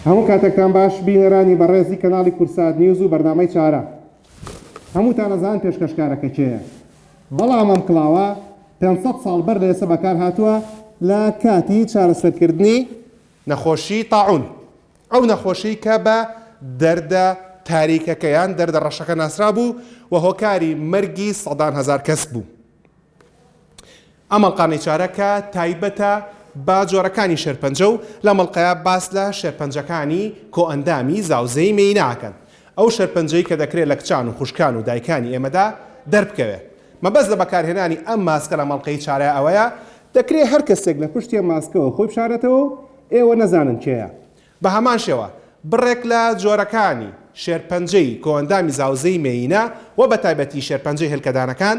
هەموو کاتێکتان باش بینەرانی بەڕێزی کەناڵی کورسات نیوز و بەرنامەی چارە هەمووتان ئەزان پێشکەشکارەکە کێیە بەڵام ئەم کڵاوە 500 ساڵ بەر لە ئێستا بەکار هاتووە لە کاتی چارەسەرکردنی نەخۆشی تاعون ئەو نەخۆشیی کە بە دەردە تاریکەکە یان دەردە ڕەشەکە ناسرابوو و هۆکاری مەرگی سەدان هەزار کەس بوو. ئەم ئەڵقە نێچارە کە تایبەتە بە جۆرەکانی شێرپەنجە و لەم ئەڵقەیە باس لە شێرپەنجەکانی کۆئەندامی زاوزێی مێیینە ئەکەن. ئەو شێرپەنجەی کە دەکرێ لە کچان و خوشکان و دایکانی ئێمەدا دەربکەوێ. مەبەست لە بەکارهێنانی ئەم ماسکە لەم ئەڵقەی چارە ئەوەیە، دەکرێ هەر کەسێک لە پشتی ئەم ماسکەوە خۆی بشارێتەوە و ئێوە نەزانن کێیە. بە هەمان شێوە بڕێک لە جۆرەکانی شێرپەنجەی کۆئەندامی زاوزێی مێیینە و بە تایبەتی شێرپەنجەی هێلکەدانەکان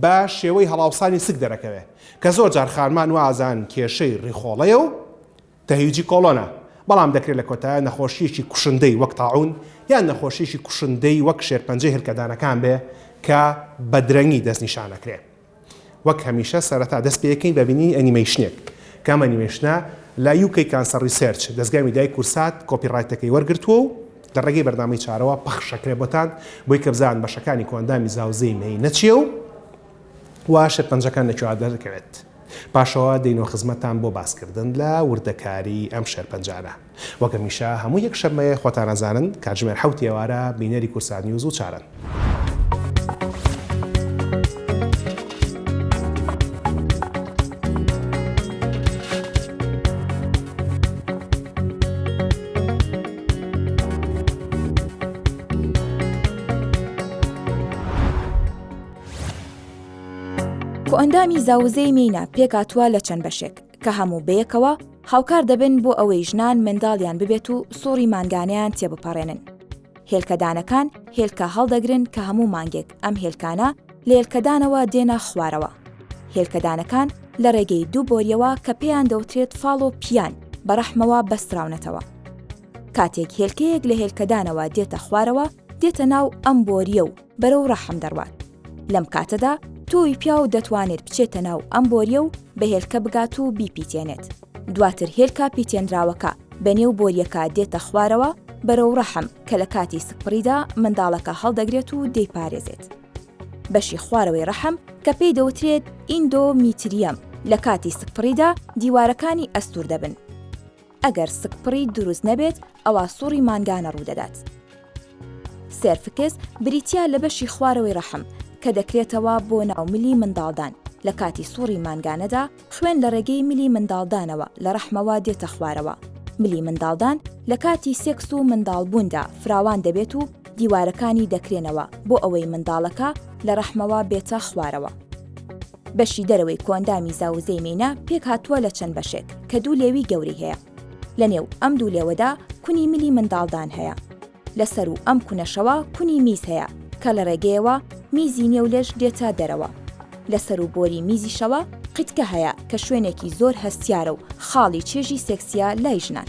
بە شێوەی هەڵاوسانی سک دەرەکەوێ کە زۆر جار خانمان وازانن کێشەی ڕیخۆڵەیە و تەهیجی کۆڵۆنە بەڵام دەکرێ لە کۆتایە نەخۆشییەکی کوشندەی وەک تاعون یان نەخۆشییەکی کوشندەی وەک شێرپەنجەی هێلکەدانەکان بێ کە بە درەنگی دەستنیشان ئەکرێ. وەک هەمیشە سەرەتا دەست پێکەین بە بینینی ئەنیمەیشنێک. کام ئەنیمەیشنە؟ لە UK Cancer Research، دەزگای میدیای کورسات، کۆپی ڕایتەکەی وەرگرتووە و لە ڕێگەی بەرنامەی چارەوە پەخش ئەکرێ بۆتان، بۆی کە بزانن بەشەکانی کۆئەندامی زاوزێی مێینە چییە و و شێرپەنجەکان لە کوێوە دەردەکەوێت. پاشەوە دێینەوە خزمەتتان بۆ باسکردن لە وردەکاریی ئەم شێرپەنجانە. وەک هەمیشە هەموو یەک شەممەیە خۆتان ئەزانن کاتژمێر حەوت ئێوارە بینەری کورسات نیوز و چارەن. کۆئەندامی زاوزێی مێینە پێکهاتووە لە چەند بەشێک. کە هەموو بەیەکەوە هاوکار دەبن بۆ ئەوەی ژنان منداڵیان ببێت و سوڕی مانگانیان تێبپەڕێنن. هێلکەدانەکان هێلکە هەڵدەگرن کە هەموو مانگێک ئەم هێلکانە لە هێلکەدانەوە دێنە خوارەوە. هێلکەدانەکان لە ڕێگەی دوو بۆریەوە کە پێیان دەوترێت فاڵ و پیان بە ڕەحمەوە بەستراونەتەوە. کاتێک هێلکەیەک لە هێلکەدانەوە دێتە خوارەوە دێتە ناو ئەم بۆریە و بەرەو ڕەحم دەڕوات. لەم کاتەدا تۆوی پیاو دەتوانێت بچێتە ناو ئەم بۆریە و بە هێلکە بگات و بیپیتێنێت. دواتر هێلکە پیتێنراوەکە بە نێو بۆریەکە دێتە خوارەوە بەرەو ڕەحم کە لە کاتی سکپڕیدا منداڵەکە هەڵدەگرێت و دەیپارێزێت. بەشی خوارەوەی ڕەحم کە پێی دەوترێت ئیندۆ میتریەم لە کاتی سکپڕیدا دیوارەکانی ئەستور دەبن. ئەگەر سکپڕی دروست نەبێت ئەوا سوڕی مانگانە ڕوودەدات. سێرفکس بریتیا لە بەشی خوارەوەی ڕەحم کە دەکرێتەوە بۆ ناو ملی منداڵدان لە کاتی سوڕی مانگانەدا خوێن لە ڕێگەی ملی منداڵدانەوە لە ڕەحمەوە دێتە خوارەوە ملی منداڵدان لە کاتی سێکس و منداڵبووندا فراوان دەبێت و دیوارەکانی دەکرێنەوە بۆ ئەوەی منداڵەکە لە ڕەحمەوە بێتە خوارەوە. بەشی دەرەوەی کۆئەندامی زاوزێی مێینە پێکهاتووە لە چەند بەشێک کە دوو لێوی گەورەی هەیە. لە نێو ئەم دوو لێوەدا کونی ملی منداڵدان هەیە. لە سەروو ئەم کونەشەوە کونی میز هەیە کە لە ڕێگەیەوە میزی نێو لێش دێتە دەرەوە. لە سەروو بۆری میزیشەوە قیتکە هەیە کە شوێنێکی زۆر هەستیارە و خاڵی چێژی سێکسییە لای ژنان.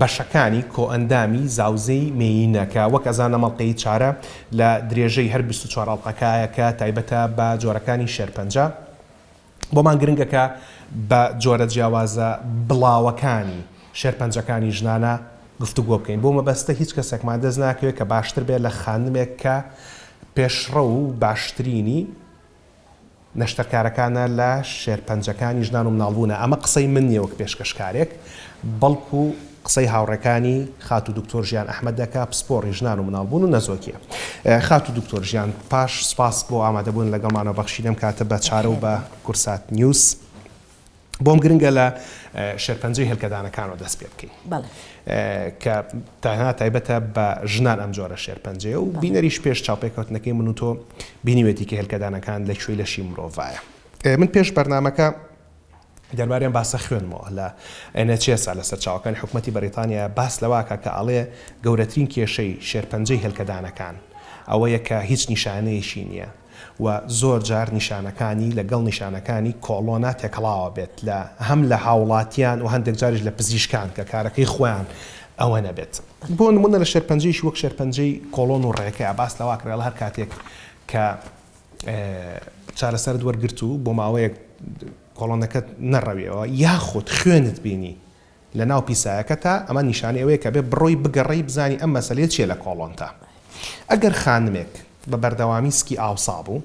بەشەکانی کۆئەندامی زاوزێی مێیینە کە وەک ئەزا نەمەڵقێی چارە لە درێژەی هەر بیست و چوار ئەڵقەکایە کە تایبەتە بە جۆرەکانی شێرپەنجە بۆمان گرنگە کە بە جۆرە جیاوازە بڵاوەکانی شێرپەنجەکانی ژنانە گفتوگۆ بکەین بۆ مەبەستە هیچ کەسێکمان دەست ناکەوێت کە باشتر بێت لە خانمێک کە پێشڕەو و باشترینی نەشتەرکارەکانە لە شێرپەنجەکانی ژنان و مناڵبوونە، ئەمە قسەی من نییە وەک پێشکەشکارێک، بەڵکو قسەی هاوڕێکانی خاتوو دکتۆر ژیان ئەحمەدە کە پسپۆڕی ژنان و مناڵبوون و نەزۆکییە. خاتوو دکتۆر ژیان پاش سپاس بۆ ئامادەبوون لەگەڵمانەوە بەخشینی ئەم کاتە بە چارە و بە کورسات نیوز، بۆم گرنگە لە شێرپەنجەی هێلکەدانەکانەوە دەست پێ بکەین کە تاهێنا تایبەتە بە ژنان ئەم جۆرە شێرپەنجەیە و بینەریش پێش چاوپێکەوتنەکەی من و تۆ بینیوێتی کە هێلکەدانەکان لە کوێی لەشی مرۆڤایە من پێش بەرنمەکە دەرباریان باسە خوێنمەوە لە ئەنەچێسا لە سەرچاوەکانی حکوومەتتی بەریتانیا باس لەواکە کە ئاڵێ گەورەترین کێشەی شێرپەنجەی هێلکەدانەکان ئەوەیە کە هیچ نیشانەیەکی نییە و زۆر جار نیشانەکانی لە گەڵ نیشانەکانی کۆڵۆنا تێکەڵاوە بێت لە هەم لە هاوڵاتیان و هەندێک جاریش لە پزیشکان کە کارەکەی خۆیان ئەوە نەبێت. بۆ نموونە لە شێرپەنجەیەکی وەک شێرپەنجەی کۆڵۆن و ڕێکە باس لەوە ئەکرێ هەر کاتێک کە چارەسەرت وەرگرت و بۆ ماوەیەک کۆڵۆنەکەت نەڕەویەوە یاخود خوێنت بینی لە ناو پیسایەکەتە، ئەمە نیشانەی ئەوەیە کە بێ بڕۆی بگەڕێی بزانی ئەم مەسەلەیە چیە لە کۆڵۆنتا. ئەگەر خانمێک بە بەردەوامی سکی ئاوسا بوو،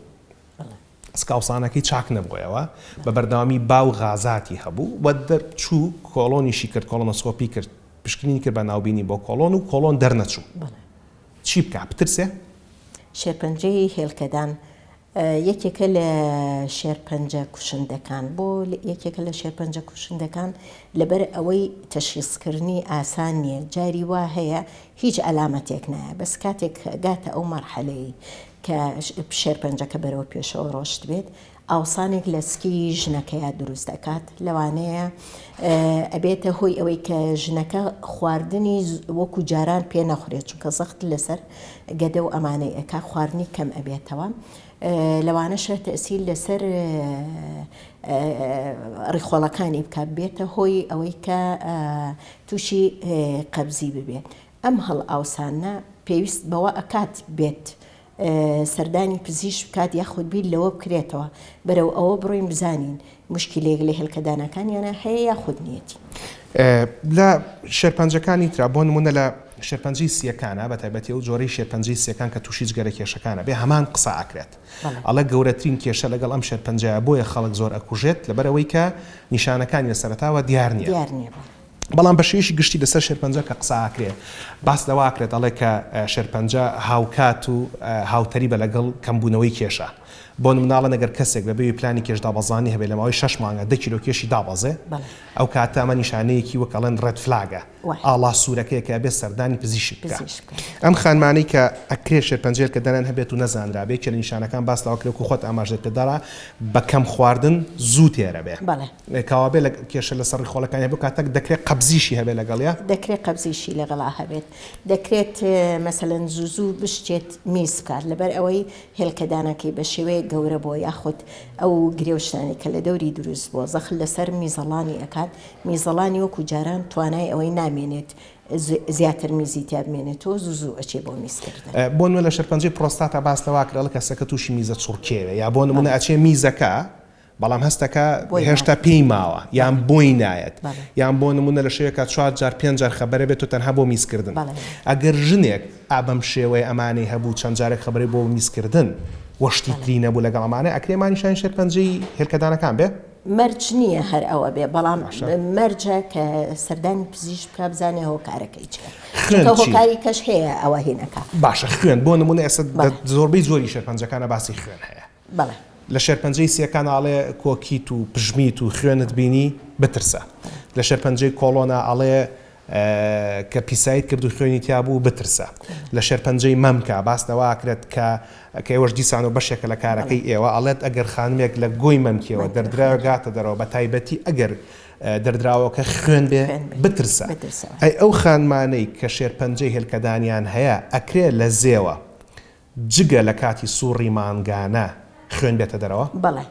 سک ئاوسانەکەی چاک نەبووەوە، بە بەردەوامی با و غازاتی هەبوو و دەرچوو کۆڵۆنیشی کرد کۆڵۆنۆسکۆپی کرد پشکنینی کرد بە ناوبینی بۆ کۆڵۆن و کۆڵۆن دەرنەچوو چی بکا؟ بترسێ؟ شێرپەنجەی هێلکەدان یەکێکە لە شێرپەنجە کوشندەکان. بۆ یەکێکە لە شێرپەنجە کوشندەکان؟ لەبەر ئەوەی تەشخیسکردنی ئاسان نییە، جاری وا هەیە هیچ عەلامەتێک نایە، بەس کاتێک گاتە ئەو مەرحەلەی کە شێرپەنجەکە بەرەو پێشەوە ڕۆشتبێت، ئاوسانێک لە سکی ژنەکەیا دروست ئەکات، لەوانەیە ئەبێتە هۆی ئەوەی کە ژنەکە خواردنی وەکو جاران پێ نەخورێت، چونکە زەخت لەسەر گەدە و ئەمانەی ئەکا خواردنی کەم ئەبێتەوە لەوانەشە تەسیل لەسەر ڕیخۆڵەکانی بکە بێتە هۆی ئەوەی کە تووشی قەبزی ببێت ئەم هەڵ ئاوسانە پێویست بەوە ئەکات بێت سەردانی پزیش بکات یاخود بیر لەوە بکرێتەوە بەرەو ئەوە بڕۆین بزانین موشکیلەیەک لە هێلکە دانەکانیانا هەیە یاخود نیەتی. لە شێرپەنجەکانی ترا بۆ نموونە لە شێرپەنجەی سییەکانا بە تایبەتی ئەو جۆرەی شێرپەنجەی سییەکان کە تووشی جگەرە کێشەکانە بێ هەمان قسە ئەکرێت ئەڵێ گەورەترین کێشە لەگەڵ ئەم شێرپەنجەیە بۆیە خەڵک زۆر ئەکوژێت لەبەر ئەوەی کە نیشانەکانی لە سەرەتاوە دیار نییە. بەڵام بە شێوەیەکی گشتی لەسەر شێرپەنجە کە قسە ئاکرێ باس لەوە ئاکرێت ئەڵێ کە شێرپەنجە هاوکات و هاوتەریبە لەگەڵ کەمبوونەوەی کێشە بۆ مناڵن ئەگەر کەسێک بە بێوی پلانی کێش دابەزانی هەبێ لە ماوەی شەش مانگە دە کیلۆ کێشی دابەزێ ئەو کاتە ئەمە نیشانەیەکی وەک ئەڵێن ڕێد فلاگە ئاڵا سوورەکەیە کە ئەبێ سەردانی پزیشک بکا ئەم خانمانەی کە ئەکرێ شێرپەنجەیە کە دەنان هەبێت و نەزانرا بێ کێ لە نیشانەکان باس لەوە کرێ و خۆت ئاماژەت پێ دەرا بە کەم خواردن زوو تێرە بێ. کاوابێ لە کێشە لە سە ڕیخۆڵەکانی هەبێ کاتە دە کرێ قەبزیشی هەبێ لە گەڵیا. دە کرێ قەبزیشی لە گەڵا هەبێت دە کرێت مە سە لەن زوو زوو بشکێت میز بکات لە بەر ئەوەی هێلکە دانەکەی بە شێوەیەک گەورە بۆ یاخود ئەو گرێ و شتانەی کە لە دەوری دروست بووە زەخت لە سەر میزەڵانی ئەکات میزەڵانی وەکوو جاران توانای ئەوەی نامێنێت زیاتر میزی تیا بمێنێت و زوو زوو ئەچێ بۆ میز کردن. بۆ نموونە لە شەرپەنجەی پرۆستاتا باس لە وا کرا ڵکە سە کە تووشی میزە چڕکێ بێ یا بۆ نموونە ئەچێ میزەکە بەڵام هەستەکە هێشتا پێی ماوە یان بۆی نایەت یان بۆ نمونە لە شەوێکا چوار جار پێنج جار خەبەرە بێت و تەنها بۆ میزکردن ئەگەر ژنێک ئا بەم شێوەیە ئەمانەی هەبوو چەند جارێک خەبەرەی بۆ میزکردن وە شتی تری نەبوو لەگەڵ ئەمانە ئەکرێ مانیشانی شێرپەنجەی هێلکەدانەکان بێ؟ مەرج نییە هەر ئەوە بێ بەڵام مەرجە کە سەردانی پزیش بکە بزانێ هۆکارەکەی هۆکاری کەش هەیە ئەوە هێنەکە باشە خوێن بۆ نمونە ئێستا زۆربەی زۆری شەرپەنجەکانە باسی خوێن هەیە بەڵێ. لە شێرپەنجەی سێ کان ئەڵێ کۆکیت و پژمیت و خوێنت بینی بترسە. لە شێرپەنجەی کۆڵۆنا ئەڵێ کە پیسایت کرد و خوێنی تیا بوو بترسە. لە شێرپەنجەی مەمکە باس لەوە ئەکرێت کە کە ئێوەش دیسانەوە بەشێکە لە کارەکەی ئێوە ئەڵێت ئەگەر خانمێک لە گۆی مەمکیەوە دەردراوێک هاتە دەرەوە بە تایبەتی ئەگەر دەردراوەکە خوێن بێ بترسە. ئەی ئەو خانمانەی کە شێرپەنجەی هێلکەدانیان هەیە ئەکرێ لە زێوە جگە لە کاتی سوڕی مانگانە خوێن بێتە دەرەوە؟ بەڵێ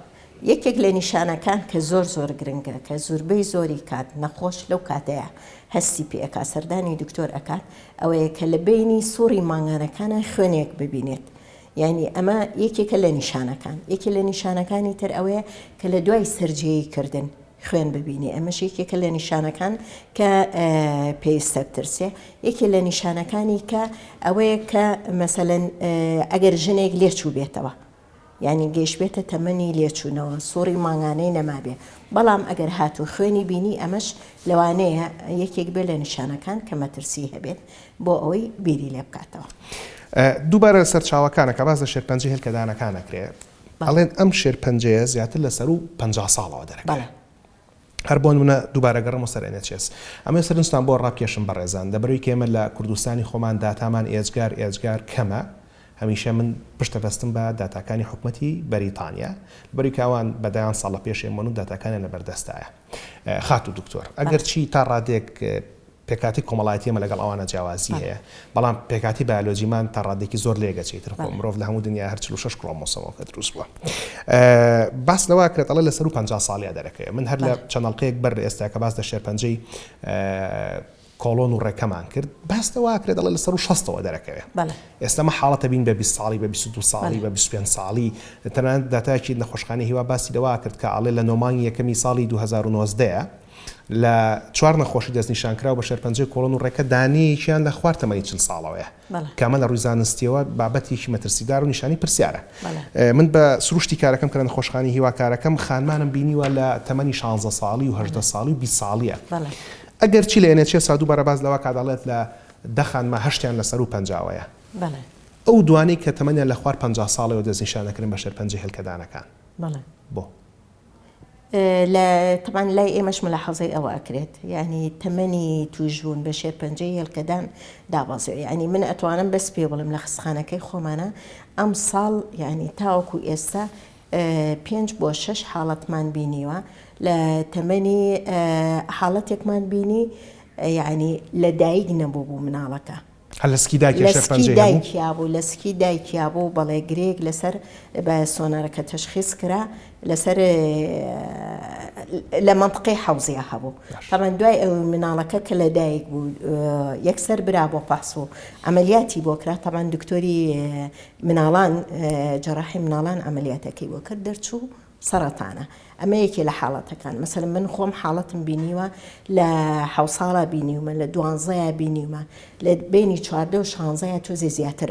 یەکێک لە نیشانەکان کە زۆر زۆر گرنگە کە زوربەی زۆری کات نەخۆش لەو کاتەیا هەستی پێ ئەکات سەردانی دکتۆر ئەکات ئەوەیە کە لە بەینی سوڕی مانگانەکانا خوێنێک ببینێت یانی ئەمە یەکێکە لە نیشانەکان یەکێ لە نیشانەکانی تر ئەوەیە کە لە دوای سەرجێی کردن خوێن ببینێ ئەمەش یەکێکە لە نیشانەکان کە پێویستە بترسێ یەکێ لە نیشانەکانی کە ئەوەیە کە مەسەلەن ئەگەر ژنێک لێچوو بێتەوە یعنی گەیشتبێتە تەمەنی لێچوونەوە سوڕی مانگانەی نەمابێ بەڵام ئەگەر هات و خوێنی بینی ئەمەش لەوانەیە یەکێک بێ لە نیشانەکان کە مەترسی هەبێت بۆ ئەوەی بیری لێ بکاتەوە. دووبارە سەرچاوەکانەکە باس لە شێرپەنجە هێلکەدانەکانەکرێت ئەڵێن ئەم شێرپەنجەیە زیاتر لە سەروو پەنجا ساڵەوە دەرەکەیە. هەر بۆ نموونە دووبارە گەڕێمەوە سەر NHS. ئەمەوێ سەرنجتان بۆ ڕابکێشم بەڕێزان، لەبەرەوەی کە ئێمە لە کوردستانی خۆمان داتامان ئێجگار ئێجگار کەمە، هەمیشە من پشت دەبەستم بە داتاکانی حکومەتی بەریتانیا، لەبەرەوەی کە ئەوان بە دەیان ساڵ لە پێش ئێمەن و داتاکانیان لەبەردەستایە. خاتوو دکتۆر ئەگەر چی تا ڕادێک پێکاتی کۆمەڵایەتی ئێمە لەگەڵ ئەوانە جیاوازی هەیە بەڵام پێکاتی بایۆلۆجیمان تا ڕادێکی زۆر لێگەچی تر خۆ مرۆڤ لە هەموو دنیا هەر 46 کڕۆمۆسۆمەوە کە دروست بووە باس لەوە کرێت ئەڵە لە سەر و 50 ساڵیا دەرەکەی من هەر لە چەناڵقەیەک بەر ئێستا کە باس لە شێرپەنجەی کۆڵۆن و ڕێکەمان کرد باس لەوە ئەکرێ دەڵێ لە سەروو شەستەوە دەرەکەوێ ئێستا ئەمە حاڵەتە بین بە بیست ساڵی بە بیست و دوو ساڵی بە بیست و پێنج ساڵی تەنانەت داتایەکی نەخۆشخانەی هیوا باسی لەوە ئەکرد کە ئەڵێ لە نۆ مانگی یەکەمی ساڵی دوو هەزار و نۆزدە لە چوار نەخۆشی دەستنیشانکراو بە شێرپەنجەی کۆڵۆن و ڕێکە دانەیەکیان لە خوار تەمەنی چل ساڵەوەیە. کامە لە ڕووی زانستییەوە بابەتێکی مەترسیدار و نیشانەی پرسیارە. من بە سروشتی کارەکەم کە لە نەخۆشخانەی هیوا کارەکەم، خانمانم بینیوە لە تەمەنی شانزە ساڵی و هەژدە ساڵی و بیست ساڵییە. ئەگەرچی لە NHS-ە دووبارە باس لەوە کات ئەڵێت لە دە خانمە هەشتیان لە سەروو پەنجاوەیە. ئەو دوانەی کە تەمەنیان لە خوار پەنجا ساڵەوە دەستنیشان ئەکرێن بە شێرپەنجەی هێلکەدانەکان. بۆ؟ لە تەبان لای ئێمەش ملاحەزەی ئەوە ئەکرێت یعنی تەمەنی توشبوون بە شێرپەنجەی هێلکەدان دابەزێ ینی من ئەتوانم بەس پێ بڵم لە خستخانەکەی خۆمانە ئەم ساڵ یعنی تاوەکو ئێستا پێنج بۆ شش حاڵەتمان بینیوە لە تەمەنی حاڵەتێکمان بینی یعنی لە دایک نەبوو بوو مناڵەکە هەر لە سکی دایکیا شێخ پەنجەی هەبوو؟ لە سکی دایکیا بوو، لە سکی دایکیا بوو بەڵێ گرێیەک لەسەر بە سۆنارەکە تەشخیس کرا لەسەر لە مەنتقەی حەوزیا هەبوو تەبەن دوای ئەو مناڵەکە کە لە دایک بوو یەکسەر برا بۆ پاس و ئەمەلیاتی بۆ کرا تەبان دکتۆری مناڵان جەراحی مناڵان ئەمەلیاتەکەی بۆ کرد دەرچوو سەڕەتانە ئەمە یەکێ لە حاڵەتەکان مەسەلەن من خۆم حاڵەتم بینیوە لە حەو ساڵا بینیومە لە دوانزەیە بینیومە لە بینی چواردە و شانزەیە تۆزێ زیاتر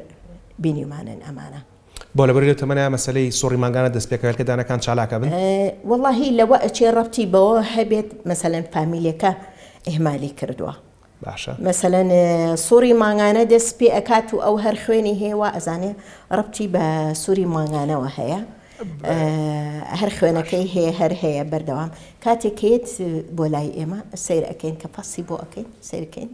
بینیمانن ئەمانە. بۆ لەبەری لەو تەمەنە مەسەلەی سوڕی مانگانە دەست پێکەوێت کە دانەکان چالاک ئەبن؟ وەڵاهی لەوە ئەچێ ڕەبتی بەوە هەبێت مەسەلەن فامیلەکە ئیهمالی کردووە باشە. مەسەلەن سوڕی مانگانە دەست پێ ئەکات و ئەو هەر خوێنی هەیە وا ئەزانێ ڕەبتی بە سوری مانگانەوە هەیە هەر خوێنەکەی هەیە هەر هەیە بەردەوام کاتێکێت بۆ لای ئێمە سیر ئەەکەین کە پاسی بۆ ئەەکەین سیرکەین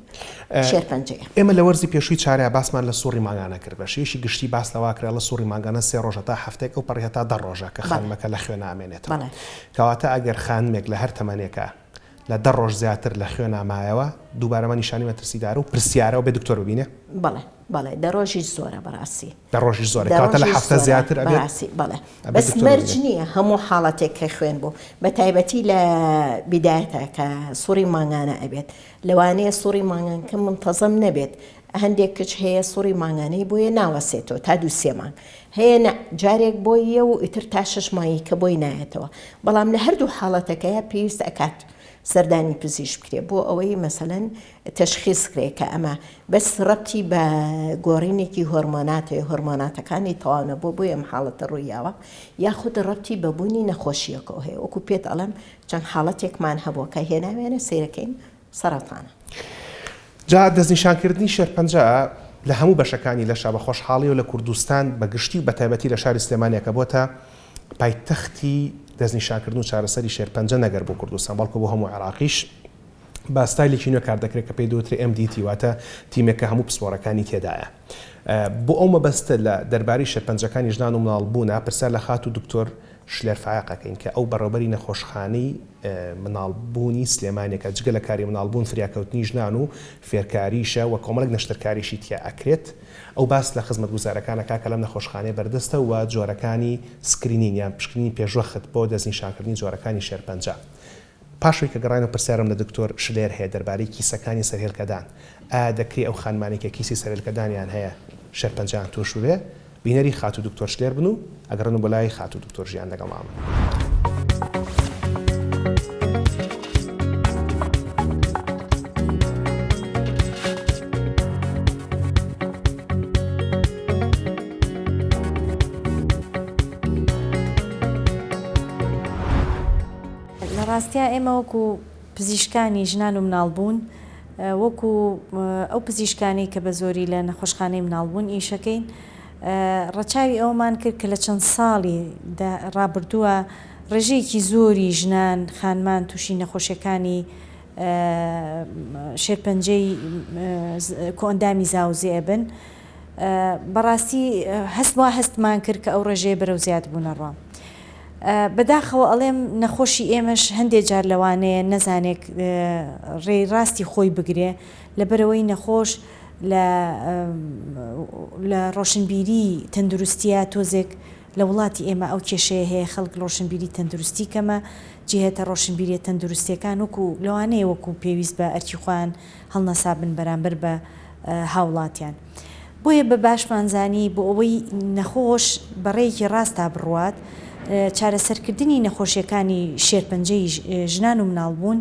شێرپەنجێ ئێمە لە وەرزی پێشووی چارە باسمان لە سوڕی مانگانە کرد بە شێشی گشتی باس لەواکرا لە سوڕی مانگانە سێ ڕۆژە تا هەفتێک ئەو پەڕێ تا دە ڕۆژە کە خانمەکە لە خوێنامێنێت کەواتە ئەگەر خانمێک لە هەر تەمەنێکە لە دە ڕۆژ زیاتر لە خوێنا مایەوە دووبارە ئەمە نیشانی مەترسیدارە و پرسیارە و بێ دکتۆر ببینێ. بەڵێ بەڵێ دە ڕۆژیش زۆرە بەڕاستی. دە ڕۆژیش زۆرە کەواتە لە هەفتە زیاتر ئەبێت بەڕاستی بەڵێ ئەبێت بەس دکتۆر مەرج ببینێ. نییە هەموو حاڵەتێک کە خوێن بوو بە تایبەتی لە بیدایەتە کە سوڕی مانگانە ئەبێت لەوانەیە سوڕی مانگانکە منتەزەم نەبێت هەندێک کچ هەیە سوڕی مانگانەی بۆیە ناوەسێتەوە تا دوو سێ مانگ هەیە نە جارێک بۆی یە و ئیتر تا شەش مانگی کە بۆی نایەتەوە بەڵام لە هەردوو حاڵەتەکەیە پێویست ئەکات سەردانی پزیشک بکرێ بۆ ئەوەی مەسەلەن تەشخیص کرێ کە ئەمە بەس ڕەتی بە گۆڕینێکی هۆرمۆناتێ هۆرمۆناتەکانی تەواونە بۆ بۆی ئەم حاڵەتە ڕوویاوە یاخود ڕەتی بە بوونی نەخۆشیەکەەوە هەیە وەکو پێت ئەڵم چەند حاڵەتێکمان هەبووە کە هێناوێنە سیرەکەین سەرەتانە. جا دەستنیشانکردنی شێرپەنجە لە هەموو بەشەکانی لەشە بە خۆشحاڵی و لە کوردستان بە گشتی و بەتایبەتی لە شاری سلێمانیە کە بۆتە پایتەختی دەستنیشانکردن و چارەسەری شێرپەنجە نەگەر بۆ کوردستان بەڵکو بۆ هەموو عێراقیش بە ستایلێکی نوێ کاردەکرێت کە پێی دەوترێ MDT واتە تیمێک کە هەموو پسپۆرەکانی تێدایە. بۆ ئەو مەبەستە لە دەربارەی شێرپەنجەکانی ژنان و مناڵ بوونا پرسیار لە خاتوو دکتۆر شلێر فایەق ئەکەین کە ئەو بەڕێوبەری نەخۆشخانەی مناڵ بوونی سلێمانێکە جگە لە کاری مناڵ بوون فریاکەوتنی ژنان و فێرکاریشە و کۆمەڵێک نەشتەرکاریشی تیا ئەکرێت ئەو باس لە خزمەت گوزارەکان ئەکا کە لەم نەخۆشخانەیە بەردەستە و جۆرەکانی سکرینین یان پشکنینی پێشوەخت بۆ دەستنیشانکردنی جۆرەکانی شێرپەنجە پاش ئەوەی کە گەڕاینەوە پرسیارم لە دکتۆر شلێر هەیە دەربارەی کیسەکانی سەرهێلکەدان، ئایا دەکرێ ئەو خانمانەی کە کیسی سەرهێلکەدانیان هەیە شێرپەنجەیان تورش ببێ بینەری خاتوو دکتۆر شلێر بن و ئەگەڕێنم بۆ لای خاتوو دکتۆر ژیان لەگەڵ مامم. لە ڕاستیا ئێمە وەکو پزیشکانی ژنان و مناڵ بوون وەکو ئەو پزیشکانەی کە بە زۆری لە نەخۆشخانەی مناڵ بوون ئیشەکەین ڕەچاوی ئەوەمان کرد کە لە چەند ساڵی ڕابردووە ڕێژەیەکی زۆری ژنان خانمان تووشی نەخۆشیەکانی شێرپەنجەی کۆئەندامی زاوزێ ئەبن بەڕاستی هەست وا هەستمان کرد کە ئەو ڕێژەیە بەرەو زیاد بوونە ڕا. بەداخەوە ئەڵێم نەخۆشی ئێمەش هەندێ جار لەوانەیە نەزانێک ڕێی ڕاستی خۆی بگرێ لەبەرەوەی نەخۆش لە لە ڕۆشنبیری تەندروستیە تۆزێک لە وڵاتی ئێمە ئەو کێشەیە هەیە خەڵک ڕۆشنبیری تەندروستی کەمە جهێتە ڕۆشنبیرە تەندروستیەکان وەکو لەوانەیە وەکو پێویست بە ئەرکی خۆیان هەڵنەسابن بەرامبەر بە هاوڵاتیان. بۆیە بە باشمان زانی بۆ ئەوەی نەخۆش بە ڕێیەکی ڕاستا بڕوات، چارەسەرکردنی نەخۆشییەکانی شێرپەنجەی ژنان و مناڵبوون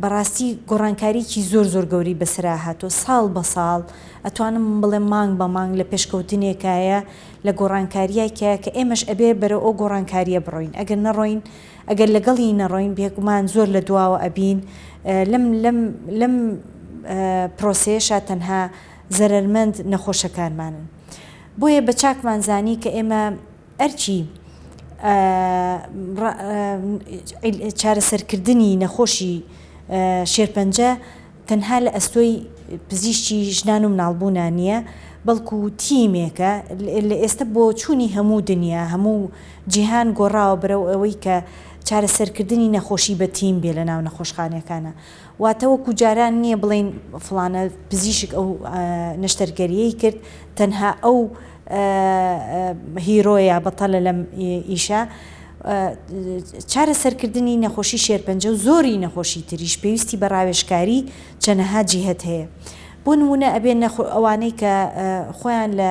بە ڕاستی گۆڕانکارییەکی زۆر زۆر گەورەی بەسەرا هاتووە، ساڵ بە ساڵ، ئەتوانم بڵێم مانگ بە مانگ لە پێشکەوتنێکایە لە گۆڕانکارییەکایە کە ئێمەش ئەبێ بەرەو ئەو گۆڕانکارییە بڕۆین، ئەگەر نەڕۆین. ئەگەر لەگەڵی نەڕۆین بێگومان زۆر لە دواوە ئەبین لەم لەم لەم پرۆسەیەشا تەنها زەرەرمەند نەخۆشەکانمانن بۆیە بە چاکمان زانی کە ئێمە ئەرکی چارەسەرکردنی نەخۆشی شێرپەنجە تەنها لە ئەستۆی پزیشکی ژنان و مناڵبوونا نییە، بەڵکو تیمێکە لە ئێستە بۆچوونی هەموو دنیا، هەموو جیهان گۆڕاوە بەرەو ئەوەی کە چارەسەرکردنی نەخۆشی بە تیم بێ لەناو نەخۆشخانەکانا. واتە وەکو جاران نییە بڵێین فڵانە پزیشک ئەو نەشتەرگەرییەی کرد تەنها ئەو، هیرۆیە بەتەلە لەم ئیشە چارەسەرکردنی نەخۆشی شێرپەنجە و زۆری نەخۆشی تریش پێویستی بە ڕاوێژکاری چەنەها جیهەت هەیە بۆ نمونە ئەبێ نەخۆ ئەوانەی کە خۆیان لە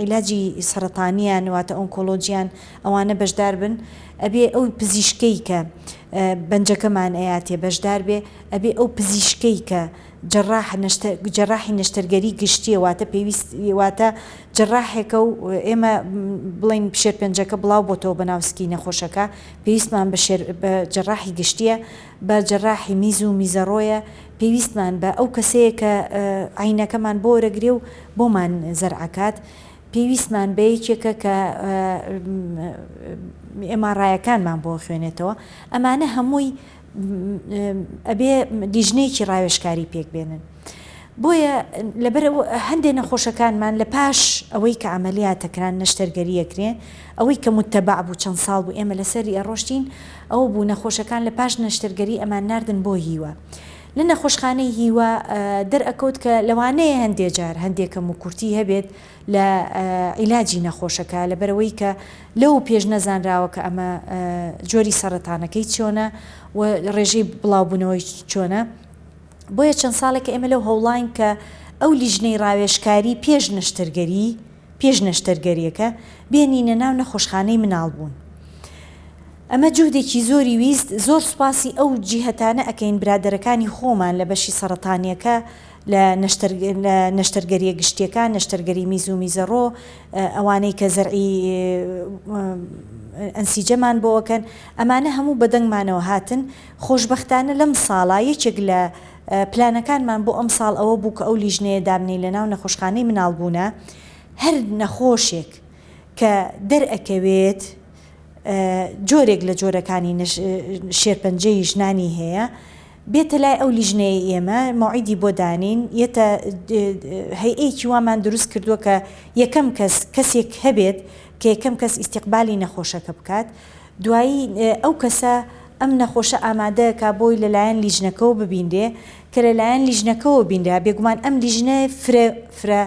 عیلاجی سەرەتانیان واتە ئۆنکۆلۆجیان ئەوانە بەشدار بن ئەبێ ئەو پزیشکەی کە بەنجەکەمان ئەیاتێ بەشدار بێ ئەبێ ئەو پزیشکەی کە جەراح نەشتە جەراحی نەشتەرگەری گشتیە واتە پێویست واتە جەراحێکە و ئێمە بڵێن شێرپەنجەکە بڵاو بۆتەوە بە ناو سکی نەخۆشەکە پێویستمان بە شێر بە جەراحی گشتیە بە جەراحی میز و میزەڕۆیە پێویستمان بە ئەو کەسەیە کە عەینەکەمان بۆ وەرەگرێ و بۆمان زەرعەکات پێویستمان بە یەکێکە کە ئێماڕایەکانمان بۆ خوێنێتەوە ئەمانە هەمووی ئەبێ لیژنەیەکی ڕاوێژکاری پێک بێنن. بۆیە لەبەر هەندێ نەخۆشەکانمان لە پاش ئەوەی کە عملیاتە کران نەشتەرگەریە کرێ ئەوەی کە متبع بوو چەند ساڵ بوو ئێمە لەسەری ئەڕۆشتین ئەوە بوو نەخۆشەکان لە پاش نەشتەرگەری ئەمان ناردن بۆ هیوا لە نەخۆشخانەی هیوا دەرئەکەوت کە لەوانەیە هەندێ جار هەندێ کەموکورتی هەبێت لە عیلاجی نەخۆشەکە لەبەرئەوەی کە لەوە پێش نەزانراوە کە ئەمە جۆری سەڕەتانەکەی چۆنە و ڕێژەی بڵاوبوونەوەی چۆنە بۆیە چەند ساڵێکە ئێمە لەو هەوڵاین کە ئەو لیژنەی ڕاوێژکاری پێش نەشتەرگەری پێش نەشتەرگەریەکە بێنینە ناو نەخۆشخانەی مناڵبوون ئەمە جوهدێکی زۆری ویست زۆر سوپاسی ئەو جیهەتانە ئەکەین برادەرەکانی خۆمان لە بەشی سەڕەتانیەکە لە نەشتەرگەریە گشتیەکان، نەشتەرگەری میز و میزەڕۆ، ئەوانەی کە زەرعی ئەنسیجەمان بۆ ئەکەن، ئەمانە هەموو بە دەنگمانەوە هاتن، خۆشبەختانە لەم ساڵە یەکێک لە پلانەکانمان بۆ ئەمساڵ ئەوە بوو کە ئەو لیژنەیە دابنێین لە ناو نەخۆشخانەی مناڵبوونە، هەر نەخۆشێک کە دەرئەکەوێت جۆرێک لە جۆرەکانی شێرپەنجەی ژنانی هەیە، بێتە لای ئەو لیژنەیەی ئێمە مەوعیدی بۆ دانین یەتە هەیئەیەکی وامان دروست کردووە کە یەکەم کەس کەسێک هەبێت کە یەکەم کەس ئیستیقبالی نەخۆشەکە بکات دوایی ئەو کەسە ئەم نەخۆشە ئامادەکا بۆی لە لایەن لیژنەکەوە ببینرێ کە لە لایەن لیژنەکەوە بینرا بێگومان ئەم لیژنە فرە فرە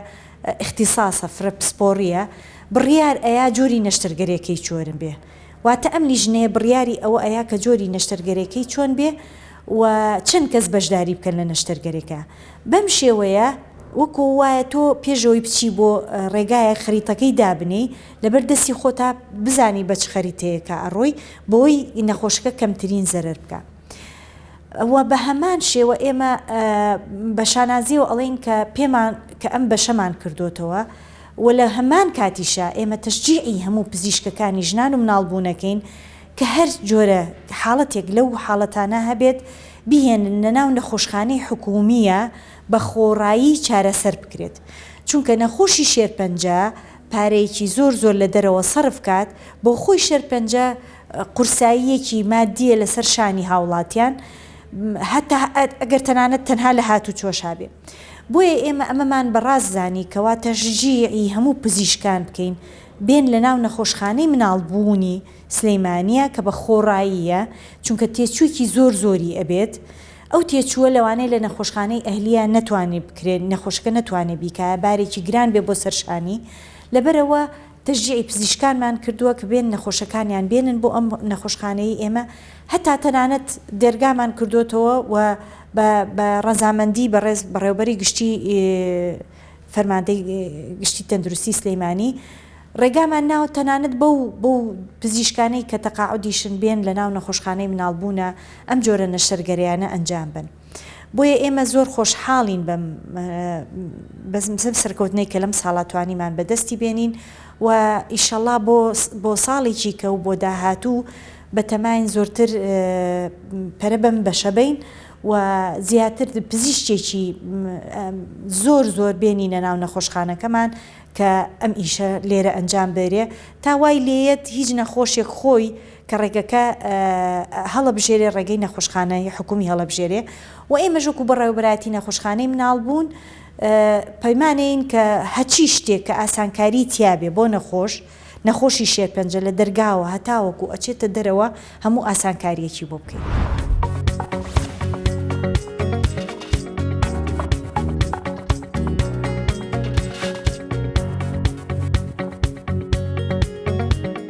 ئیختیساسە فرە پسپۆڕیە بڕیار ئەیا جۆری نەشتەرگەرێکەی چۆرن بێ. واتە ئەم لیژنەیە بڕیاری ئەوە ئەیا کە جۆری نەشتەرگەرێکەی چۆن بێ و چەند کەس بەشداری بکەن لە نەشتەرگەرێکە بەم شێوەیە وەکۆ وایە تۆ پێشەوەی بچی بۆ ڕێگایە خەریتەکەی دابنێی لەبەر دەستی خۆتا بزانی بەچ خەریتەیەکە ئەڕۆی بۆی نەخۆشەکە کەمترین زەرەر بکا. وە بەهەمان شێوە ئێمە بە شانازیەوە ئەڵێین کە پێمان کە ئەم بەشەمان کردۆتەوە و لە هەمان کاتیشا ئێمە تەشجیعی هەموو پزیشکەکانی ژنان و مناڵ بوونەکەین کە هەر جۆرە حاڵەتێک لەو حاڵەتانە هەبێت بیهێننە ناو نەخۆشخانەی حکومیە بە خۆڕایی چارەسەر بکرێت چونکە نەخۆشی شێرپەنجە پارەیەکی زۆر زۆر لە دەرەوە سەرف کات بۆ خۆی شێرپەنجە قورساییەکی مادیە لەسەر شانی هاوڵاتیان هەتا ئەگەر تەنانەت تەنها لە هاتوچۆشا بێ بۆیە ئێمە ئەمەمان بە ڕاست زانی کەوا تەشجیعی هەموو پزیشکان بکەین بێن لە ناو نەخۆشخانەی مناڵ بوونی سلیمانیە کە بە خۆڕاییە چونکە تێچوویکی زۆر زۆری ئەبێت ئەو تێچووە لەوانەیە لە نەخۆشخانەی ئەهلیە نەتوانێ بکرێ نەخۆشەکە نەتوانێ بیکایە بارێکی گران بێ بۆ سەر شانی لەبەرئەوە تەشجیعی پزیشکانمان کردووە کە بێن نەخۆشەکانیان بێنن بۆ ئەم نەخۆشخانەیەی ئێمە، هەتا تەنانەت دەرگامان کردۆتەوە و بە بە ڕەزامەندی بەڕێز بەڕێوەبەری گشتی فەرماندەی گشتی تەندروستی سلیمانی ڕێگامان ناوە تەنانەت بەو بەو پزیشکانەی کە تەقاعودیشن بێن لەناو نەخۆشخانەی مناڵبوونە ئەم جۆرە نەشتەرگەریانە ئەنجام بن. بۆیە ئێمە زۆر خۆشحاڵین بەم بەم سەرکەوتنەی کە لەم ساڵە توانیمان بەدەستی بێنین و ئیشەڵا بۆ بۆ ساڵی چیکە و بۆ داهاتوو بەتەماین زۆرتر پەرە بەم بەشە بین و زیاتر پزیشتێکی زۆر زۆر بێنینە ناو نەخۆشخانەکەمان کە ئەم ئیشە لێرە ئەنجام بەرێ تا وای لێیەت هیچ نەخۆشێک خۆی کە ڕێگەکە هەڵەبژێرێ ڕێگەی نەخۆشخانەی حکومی هەڵەبژێرێ و ئێمەش وەکو بەڕێوەبەرایەتی نەخۆشخانەی مناڵبوون پەیمانەین کە هەچی شتێک کە ئاسانکاری تیابێ بۆ نەخۆش نەخۆشی شێرپەنجە لە دەرگاوە هەتاوەکو ئەچێتە دەرەوە هەموو ئاسانکاریەکی بۆ بکەین.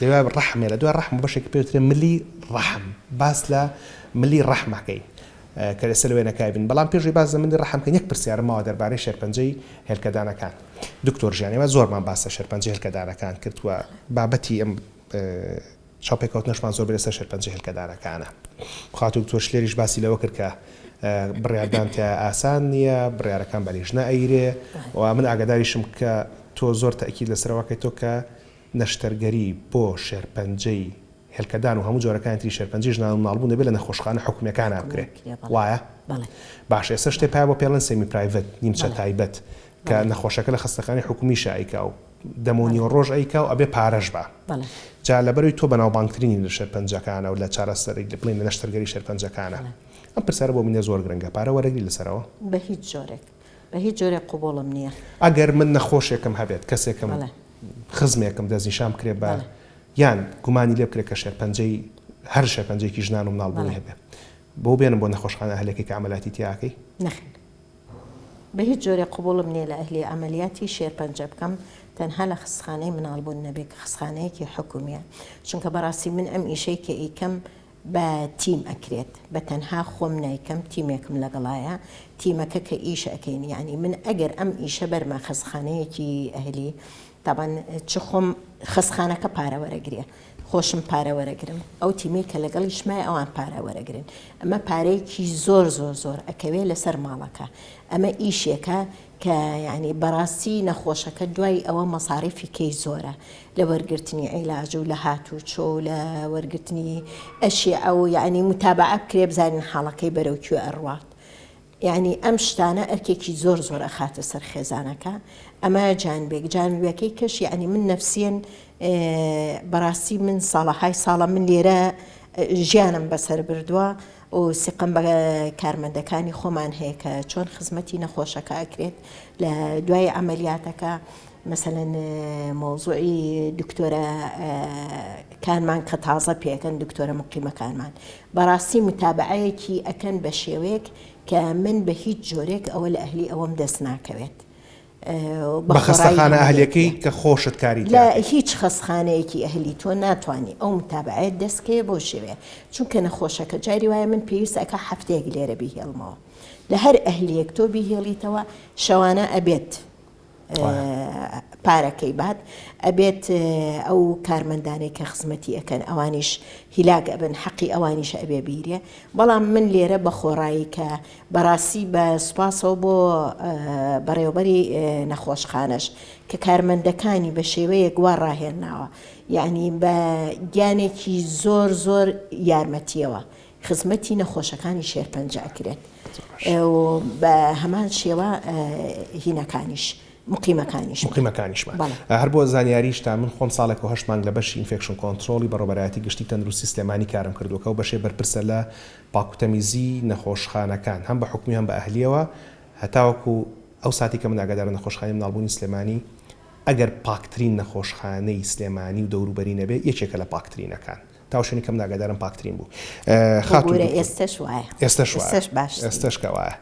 لەدوای ڕەحم یا لەدوای ڕەحم بەشێکی پێ دەوترێ ملی ڕەحم، باس لە ملی ڕەحم ئەکەین کە ئێستا لەوێ نەکایبین، بەڵام پێش ئەوەی باس لە ملی ڕەحم بکەین یەک پرسیارم ماوە دەربارەی شێرپەنجەی هێلکەدانەکان دکتۆر گیان ئێمە زۆرمان باس لە شێرپەنجەی هێلکەدانەکان کرد و بابەتی ئەم چاوپێکەوتنەشمان زۆر لەسەر شێرپەنجەی هێلکەدانەکانە خاتوو دکتۆر شلێریش باسی لەوە کرد کە بڕیاردان تیا ئاسان نییە بڕیارەکان بەریژنە ئەیرێ و من ئاگاداریشم کە تۆ زۆر تاکی لەسەرەوەکەی تۆ کە نەشتەرگەری بۆ شێرپەنجەی هێلکەدان و هەموو جۆرەکانی تری شێرپەنجەی ژنان و منداڵبوون دەبێت لە نەخۆشخانە حکومییەکانە بکرێت، وایە؟ باشە ئێستا شتێ پایە بۆ پێڵێن سێمی پرایڤەت، نیمچە تایبەت، کە نەخۆشەکە لە خەستەخانەی حکومییشا ئەیکا و دەم و نیوە ڕۆژ ئەیکا و ئەبێ پارەش با. جا لەبەرەوی تۆ بەناوبانگترینی لە شێرپەنجەکانە و لە چارەسەری بڵێین لە نەشتەرگەری شێرپەنجەکانە. ئەم پرسیارە بۆ منێ زۆر گرنگە، پارە وەرەگری لەسەرەوە؟ بە هیچ جۆرێک. بە هیچ جۆرێک قبوڵم نیە. ئەگەر من نەخۆشێکم هەبێت کەسێکم بەڵێ. خزمێکم دەستنیشان بکرێت بە بەڵێ. یان گومانی لێ بکرێت کە شێرپەنجەی هەر شێرپەنجەیەکی ژنان و مناڵ بوونی بەڵێ. هەبێت بۆو بێنم بۆ نەخۆشخانە ئەهلەکەی کە عەمەلاتی تیا ئەکەی؟ نەخێر بە هیچ جۆرێک قبوڵم نیە لە ئەهلی عەمەلیاتی شێرپەنجە بکەم تەنها لە خستخانەی مناڵ بوون نەبێت کە خستخانەیەکی حکومیە چونکە بەڕاستی من ئەم ئیشەی کە ئیکەم بە تیم ئەکرێت بە تەنها خۆم نایکەم تیمێکم لەگەڵایە تیمەکە کە ئیش ئەکەین یانی من ئەگەر ئەم ئیشە بەرمە خەسخانەیەکی ئەهلی تابان چ خۆم خەسخانەکە پارە وەرەگرێ خۆشم پارە وەرەگرم ئەو تیمەی کە لەگەڵیش مای ئەوان پارە وەرەگرن ئەمە پارەیەکی زۆر زۆر زۆر ئەکەوێ لەسەر ماڵەکە ئەمە ئیشێکە کە یانی بەڕاستی نەخۆشەکە دوای ئەوە مەساریفی کەی زۆرە لە وەرگرتنی عیلاج و لە هاتوو چۆ و لە وەرگرتنی ئەشیعە و یانی متابعە بکرێ بزانین حاڵەکەی بەرەو کوێ ئەڕوات یانی ئەم شتانە ئەرکێکی زۆر زۆر ئەخاتە سەر خێزانەکە ئەمە جانبێک جانبیەکەی کەش یانی من نەفسیەن بەڕاستی من ساڵەهای ساڵە من لێرە ژیانم بەسەر بردووە و و سیقەم بە کارمەندەکانی خۆمان هەیە کە چۆن خزمەتی نەخۆشەکە ئەکرێت لە دوای عملیاتەکە مەسەەن مۆزوعی دکتۆرە کانمان کە تازە پێکەن دکتۆرە مقیمەکانمان بەڕاستی متابعەیەکی ئەکەن بە شێوەیەک کە من بە هیچ جۆرێک ئەوە لە ئەهلی ئەوەم دەست ناکەوێت بە خەستەخانە ئەهلیەکەی کە خۆشت کاری تیا کرد. لە هیچ خەستخانەیەکی ئەهلی تۆ ناتوانی ئەو متابەعەیەت دەست کەیە بۆ شێوەیە چونکە نەخۆشەکە جاری وایە من پێویست ئەکا هەفتەیەک لێرە بیهێڵمەوە لە هەر ئەهلیەک تۆ بیهێڵیتەوە شەوانە ئەبێت پارەکەی بات ئەبێت ئەو کارمەندانەی کە خزمەتی ئەەکەن ئەوانیش هیلاک ئەبن حەقی ئەوانیش ئەبێ بیرێ بەڵام من لێرە بە خۆڕایی کە بەڕاستی بە سوپاسەوە بۆ بەڕێوەبەری نەخۆشخانەش کە کارمەندەکانی بە شێوەیەک وا ڕاهێناوە یانی بە گیانێکی زۆر زۆر یارمەتیەوە خزمەتی نەخۆشەکانی شێرپەنجە ئەکرێت و بە هەمان شێوە هینەکانیش مقیمەکانیش مقیمەکانیشمان بەڵێ. هەر بۆ زانیاریشتان من خۆم ساڵێک و هەشت مانگ لە بەشی ئینفێکشن کۆنترۆڵی بەڕێوەبەرایەتی گشتی تەندروستی سلێمانی کارم کردووە کە ئەو بەشەی بەرپرسە لە پاکوتەمیزی نەخۆشخانەکان هەم بە حکومی هەم بە ئەهلیەوە هەتاوەکو ئەو ساتەی کە من ئاگادارم نەخۆشخانەی مناڵبوونی سلێمانی ئەگەر پاکترین نەخۆشخانەی سلێمانی و دەوروبەری نەبێ یەکێکە لە پاکترینەکان تاو شوێنی کە من ئاگادارم پاکترین بوو خاتون دکتۆر ئێستەش وایە ئێستەش وایە ئێستەش باش ئێستەش کە وایە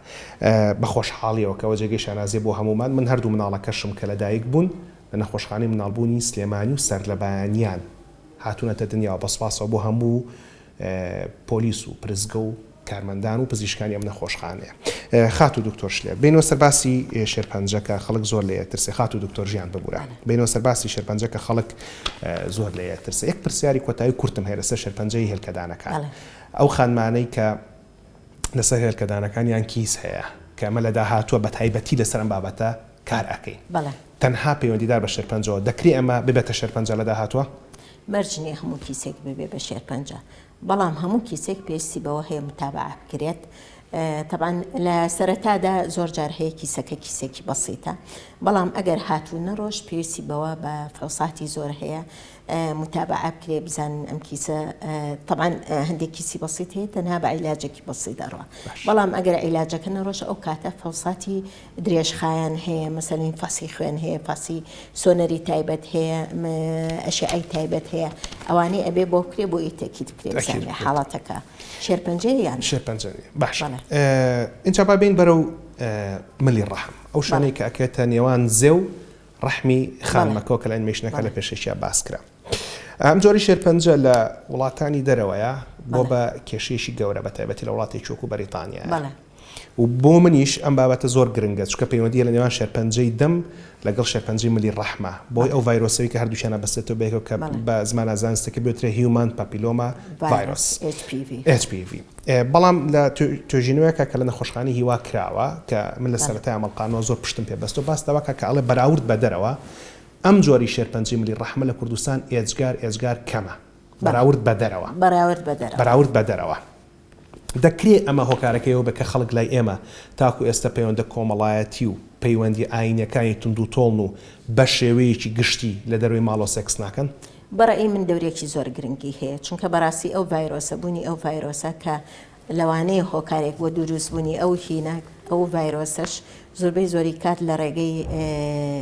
بە خۆشحاڵیەوە کەوە جێگەی شانازیە بۆ هەموومان من هەردوو مناڵەکەشم کە لە دایک بوون لە نەخۆشخانەی مناڵبوونی سلێمانی و سەرلەبەیانیان هاتونەتە دنیاوە بە سوپاسەوە بۆ هەموو پۆلیس و پرسگە و کارمەندان و پزیشکانی ئەم نەخۆشخانەیە خاتوو دکتۆر شلێر بێینەوە سەر باسی شێرپەنجە کە خەڵک زۆر لێ ئەترسێ خاتوو دکتۆر ژیان ببورە بێینەوە سەر باسی شێرپەنجە کە خەڵک زۆر لێ ئەترسێ یەک پرسیاری کۆتایی کورتم هەیە لەسەر شێرپەنجەی هێلکەدانەکان ئەو خانمانەی کە لەسەر هێلکەدانەکانیان کیس هەیە کە ئەمە لە داهاتووە بە تایبەتی لەسەر ئەم بابەتە کار ئەکەین تەنها پەیوەندیدار بە شێرپەنجەوە. دەکرێ ئەمە ببێتە شێرپەنجە لە داهاتووە؟ مەرج نییە هەموو کیسێک ببێ بە شێرپەنجە، بەڵام هەموو کیسێک پێویستی بەوە هەیە موتابەعە بکرێت. تەبعەن لە سەرەتادا زۆر جار هەیە کیسەکە کیسێکی بەسیتە، بەڵام ئەگەر هاتوو نەڕۆشت پێویستی بەوە بە فحوساتی زۆر هەیە موتابەعە بکرێ بزانن ئەم کیسە تەبعەن هەندێک کیسی بەسیت هەیە تەنها بە عیلاجێکی بەسیت دەڕوا، بەڵام ئەگەر عیلاجەکە نەڕۆشت ئەو کاتە فحوساتی درێژخایەن هەیە مەسەنین فەسی خوێن هەیە فەسی سۆنەری تایبەت هەیە ئەشعەی تایبەت هەیە ئەوانەی ئەبێ بۆ بکرێ بۆ یتەکی بکرێ بزانێ حاڵەتەکە شێرپەنجە یان شێرپەنجە باش ئینجا با بین بەرە و ملی ڕەحم ئەو شانەی کە ئەکرێتە نێوان زێ و ڕەحمی خانمەکەەوە کە لە ئەنیمەیشنەکە لە پێشێکیا باسکرا ئەم جۆری شێرپەنجە لە وڵاتانی دەرەوەیە بۆ بە کێشەیەکی گەورە بە تایبەتی لە وڵاتێکی وەکو بەریتانیا و بۆ منیش ئەم بابەتە زۆر گرنگە چکە پەیوەندیە لە نێوان شێرپەنجەی دەم لەگەڵ شێرپەنجەی ملی ڕەحمە بۆی ئەو ڤایرۆسەوەی کە هەردووچیانە بەسێتەوە بێکەوە کە بە زمانە زانستەکە بێترە هیومان پاپیلۆما ڤایرۆس بەڵام لە توێژینەوەیەکە کە لە نەخۆشخانی هیوا کراوە کە من لە سەرەتای ئەمەڵقانەوە زۆر پشتم پێ بەستەوە باستەوەکە کە ئەڵێ بەراورد بە دەرەوە ئەم جۆری شێرپەنجەی ملی ڕەحمە لە کوردستان ئێجگار ئێجگار کەمە بەراورد بە دەرەوە. بەراورد بە دەرەوە. بەراورد بە دەرەوە. دەکرێ ئەمە هۆکارەکەی ئەوە بێ کە خەڵک لای ئێمە تاکو ئێستە پەیوەندە کۆمەڵایەتی و پەیوەندیە ئایینیەکانی توندوتۆڵن و بە شێوەیەکی گشتی لە دەرەوەی ماڵەوە سێکس ناکەن. بە ڕەئی من دەورێکی زۆر گرنگی هەیە چونکە بەڕاستی ئەو ڤایرۆسە، بوونی ئەو ڤایرۆسە کە لەوانەیە هۆکارێک بۆ دوروست بونی ئەو هینە ئەو ڤایرۆسەش زۆربەی زۆری کات لە ڕێگەی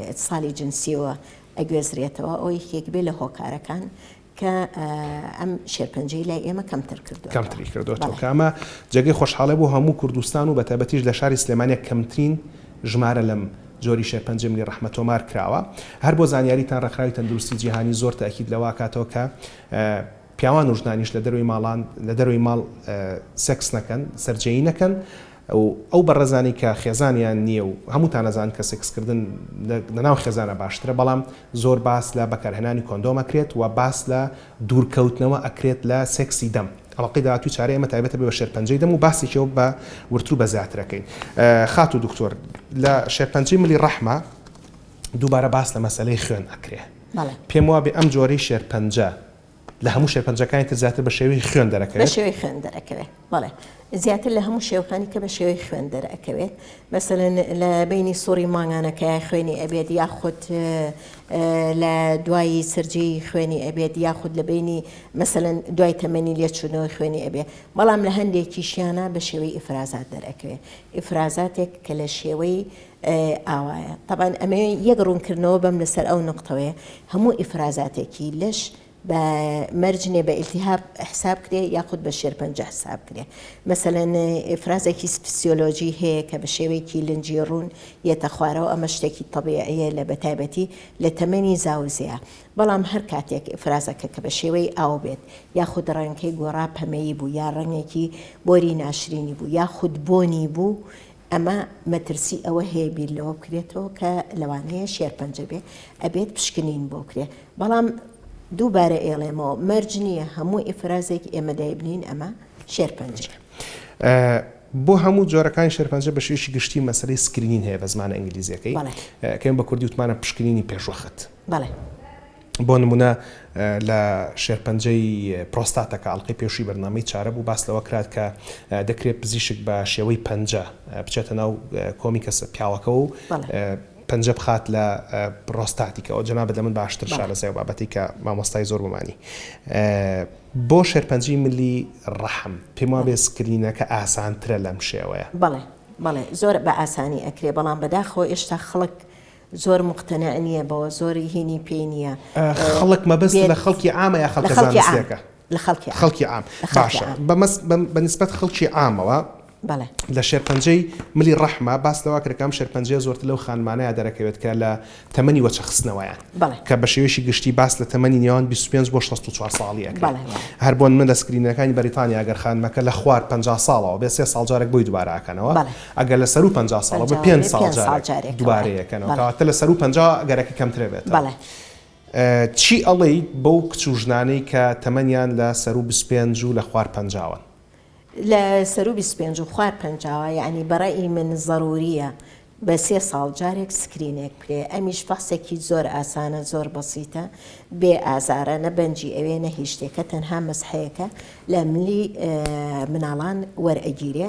ئیتسالی جنسیەوە ئەگوێزرێتەوە ئەو یەکێک بێ لە هۆکارەکان کە ئەم شێرپەنجەی لای ئێمە کەمتر کردو کەمتری کردوەوە کامە جێگەی خۆشحاڵێ بۆ هەموو کوردستان و بەتابەتیش لە شاری سلێمانە کەمترین ژمارە لەم جۆری شێرپەنجەی ملی ڕەحمە تۆمار کراوە هەر بۆ زانیاریتان ڕێکخراوی تەندروستی جیهانی زۆر تاکید لەوە کاتەوە کە پیاوان و ژنانیش لە دەرەوەی ماڵان لە دەرەوەی ماڵ سێکس نەکەن، سەرجێیی نەکەن و ئەو بەڕێزانەی کە خێزانیان نییە و هەمووتان ئەزانن کە سێکس کردن لە ناو خێزانا باشترە بەڵام زۆر باس لە بەکارهێنانی کۆندۆم ئەکرێت و باس لە دوور کەوتنەوە ئەکرێت لە سێکسی دەم. ئەڵقەی داهاتووی چارەی ئێمە تایبەتە بە شێرپەنجەی دەم و باسێکیەوە بە ورتر و بە زیاتر ئەکەین. خاتوو دکتۆر لە شێرپەنجەی ملی ڕەحمە دووبارە باس لە مەسەلەی خوێن ئەکرێ. بەڵێ. پێم وابێ ئەم جۆرەی شێرپەنجە لە هەموو شێرپەنجەکانی تر زیاتر بە شێوەی خوێن دەرەکەوێت؟ بە شێوەی خوێن دەرەکەوێت بەڵێ زیاتر لە هەموو شێوەکانی کە بە شێوەی خوێن دەرەکەوێت مەسەلەن لە بینی سوڕی مانگانەکە خوێنی ئەبێت یاخود لە دوایی سرجی خوێنی ئەبێت یاخود لە بینی مەسەلەن دوای تەمەنی لێچوونەوە خوێنی ئەبێت بەڵام لە هەندێکیشیانە بە شێوەی ئیفرازات دەرەکەوێت ئیفرازاتێک کە لە شێوەی ئاوایە تەبان ئەمەوێ یەک ڕوونکردنەوە بەم لەسەر ئەو نقطەوەیە هەموو ئیفرازاتێکی لەش بە مەرجێ بە ئیلتیهاب حساب کرێ یاخود بە شێرپەنج حساب کرێ مەسەلەن ئفرازێکی سپسیۆلۆژی هەیە کە بە شێوەیەکی لنجی ڕوون یەتە خوارەوە ئەمە شتێکی تەبیعەیە لە بەتایبەتی لە تەمەنی زاوزەیە بەڵام هەر کاتێک ئفرازەکە کە بە شێوەی ئاو بێت یاخود ڕەنگەکەی گۆڕا پەمەیی بوو یا ڕەنگێکی بۆری ناشرینی بوو یاخود بۆنی بوو ئەمە مەترسی ئەوە هەیە بیر لەوە بکرێتەوە کە لەوانەیە شێرپەنجە بێ ئەبێت پشکنین بۆ کرێ بەڵام دووبارە ئێڵێمەوە مەرج نییە هەموو ئیفرازێک ئێمە دایبنین ئەمە شێرپەنجە. بۆ هەموو جۆرەکانی شێرپەنجە بە شێوەیەکی گشتی مەسەلەی سکرینین هەیە بە زمانە ئینگلیزیەکەی کە ئێمە بە کوردی وتمانە پشکنینی پێشوەخت. بۆ نموونە لە شێرپەنجەی پرۆستاتەکە، ئەڵقەی پێشووی بەرنامەی چارە بوو، باس لەوە کرا کە دەکرێت پزیشک بە شێوەی پەنجە بچێتە ناو کۆمی کەسە پیاوەکەوە و پەنجە بخات لە پرۆستاتیکەوە، جەنابت لە من باشتر شارەزای ئەو بابەتەی کە مامۆستای زۆر بۆمانی بۆ شێرپەنجەی ملی ڕەحم، پێم وابێت سکرینەکە ئاسانترە لەم شێوەیە. بەڵێ بەڵێ زۆر بە ئاسانی ئەکرێ، بەڵام بەداخەوە ئێشتا خەڵک زۆر موقتەنع نیە بەوە زۆر هینی پێی نیە. خەڵک مەبەست لە خەڵکی عامە یا خەڵکە زانستیەکە؟ لە خەڵکی خەڵکی عام باشە بە نسبەت خەڵکی عامەوە لە شێرپەنجەی ملی ڕەحمە باس لەوە کرد کە ئەم شێرپەنجەیە زۆرتر لەو خانمانەیە دەرەکەوێت کە لە تەمەنی وەچە خستنەوەیان کە بە شێوەیەکی گشتی باس لە تەمەنی نێوان 25 بۆ 64 ساڵی ئەکرێت هەر بۆن من لە سکرینەکانی بەریتانیا گەر خانمەکە لە خوار 50 ساڵەوە بێ سێ ساڵ جارێک بۆی دوبارە ئەکەنەوە ئەگەر لە سەروو پەنجا ساڵە بە پێنج ساڵ جارێک دوبارەی ئەکەنەوە کەواتە لە سەروو پەنجا گەرەکە کەمترە بێتەوە چی ئەڵێی بەو کچ و ژنانەی کە تەمەنیان لە سەروو بیست و پێنج و لە خوار پەنجاوەن؟ لە سەروو بیست و پێنج و خوار پەنجاوە یانی بە ڕەئی من زەرووریە بە سێ ساڵ جارێک سکرینێک بکرێ ئەمیش فەحسێکی زۆر ئاسانە زۆر بەسیتە بێ ئازارە نە بەنجی ئەوێ نە هیچ شتێکە تەنها مەسحەیەکە لە ملی مناڵان وەرئەگیرێ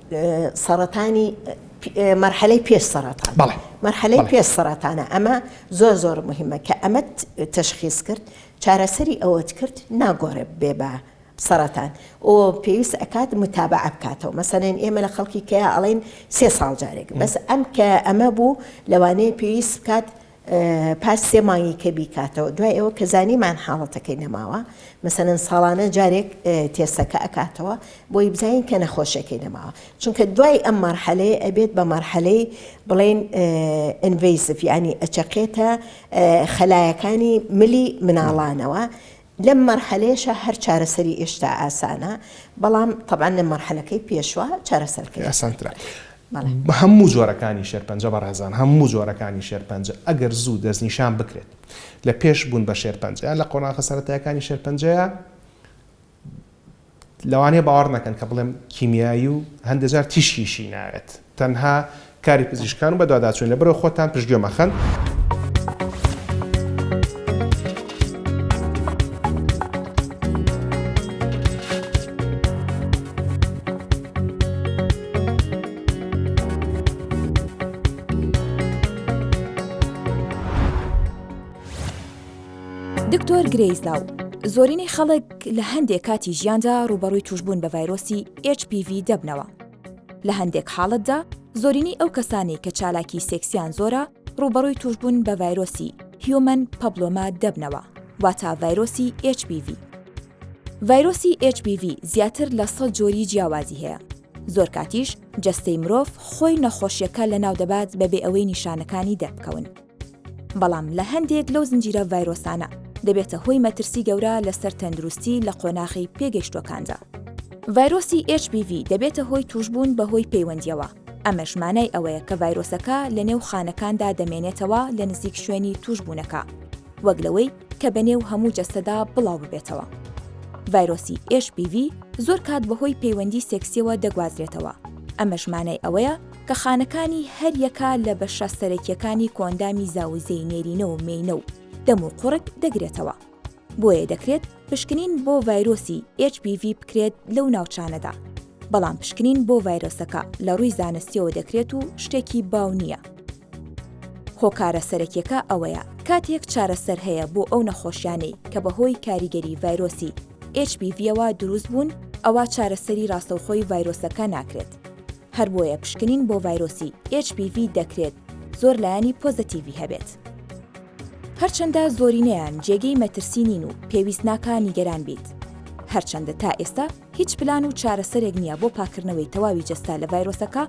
سەڕەتانی مەرحەلەی پێش سەرەتان مەرحەلەی پێش سەرەتانە ئەمە زۆر زۆر مهمە کە ئەمە تەشخیز کرد چارەسەری ئەوەت کرد ناگۆڕێ بێ بە سەرەتان ئۆ پێویست ئەکات متابع بکاتەوە مەسەێن ئێمە لە خەڵکی کەیا ئەڵین سێ ساڵ جارێک بەس ئەم کە ئەمە بوو لەوانەیە پێویست بکات پاش سێ مانگی کە بیکاتەوە دوای ئەوە کە زانیمان حاڵەتەکەی نەماوە مەسەەن ساڵانە جارێک تێسەکە ئەکاتەوە بۆی بزانین کە نەخۆشەکەی نەماوە چونکە دوای ئەم مەرحەلەیە ئەبێت بە مەرحەلەی بڵێن ئەڤیسف ینی ئەچەقێتە خەلایەکانی ملی مناڵانەوە لەم مەرحەلەیەشا هەر چارەسەری ئێشتا ئاسانە، بەڵام تەبعەن لە مەرحەلەکەی پێشوە چارەسەرکەری ئاسانترە. هەموو جۆرەکانی شێرپەنجە بەڕێزان، هەموو جۆرەکانی شێرپەنجە ئەگەر زوو دەستنیشان بکرێت لە پێش بوون بە شێرپەنجە یان لە قۆناخە سەرەتایەکانی شێرپەنجەیە، لەوانەیە باوەڕ نەکەن کە بڵێم کیمیایی و هەندێ جار تیشکیشی ناوێت، تەنها کاری پزیشکان و بەدواداچوونە، لەبەرئەوە خۆتان پشتگوێ مەخەن. دکتۆر گرەیس لاو، زۆرینەی خەڵک لە هەندێک کاتی ژیاندا ڕووبەڕووی تووشبوون بە ڤایرۆسی HPV دەبنەوە. لە هەندێک حاڵەتدا، زۆرینەی ئەو کەسانەی کە چالاکی سێکسیان زۆرە ڕووبەڕووی تووشبوون بە ڤایرۆسی هیومەن پەبلۆما دەبنەوە، واتە ڤایرۆسی HPV. ڤایرۆسی HPV زیاتر لە سەد جۆری جیاوازی هەیە، زۆر کاتیش جەستەی مرۆڤ خۆی نەخۆشییەکە لەناو دەبات بەبێ ئەوەی نیشانەکانی دەربکەون. بەڵام لە هەندێک لەو زنجیرە ڤایرۆسانە دەبێتە هۆی مەترسی گەورە لەسەر تەندروستی لە قۆناخی پێگەیشتوەکاندا. ڤایرۆسی HBV دەبێتە هۆی توشبوون بە هۆی پەیوەندیەوە، ئەمەش مانای ئەوەیە کە ڤایرۆسەکە لە نێو خانەکاندا دەمێنێتەوە لە نزیک شوێنی توشبوونەکە وەک لەوەی کە بە نێو هەموو جەستەدا بڵاو ببێتەوە. ڤایرۆسی HBV زۆر کات بە هۆی پەیوەندی سێکسیەوە دەگوازرێتەوە، ئەمەش مانای ئەوەیە کە خانەکانی هەر یەکە لە بەشە سەرەکییەکانی کۆئەندامی زاوزێی نێرینە و مێینە و دەم و قوڕگ دەگرێتەوە. بۆیە دەکرێت پشکنین بۆ ڤایرۆسی HPV بکرێت لەو ناوچانەدا. بەڵام پشکنین بۆ ڤایرۆسەکە لە ڕووی زانستییەوە دەکرێت و شتێکی باو نییە. هۆکارە سەرەکییەکە ئەوەیە، کاتێک چارەسەر هەیە بۆ ئەو نەخۆشیانەی کە بەهۆی کاریگەری ڤایرۆسی HPV-ەوە دروست بوون، ئەوا چارەسەری ڕاستەوخۆی ڤایرۆسەکە ناکرێت. هەر بۆیە پشکنین بۆ ڤایرۆسی HPV دەکرێت زۆر لایەنی پۆزەتیڤی هەبێت. هەرچەندە زۆرینەیان جێگەی مەترسی نین و پێویست ناکا نیگەران بیت. هەرچەندە تا ئێستا هیچ پلان و چارەسەرێک نییە بۆ پاککردنەوەی تەواوی جەستە لە ڤایرۆسەکە،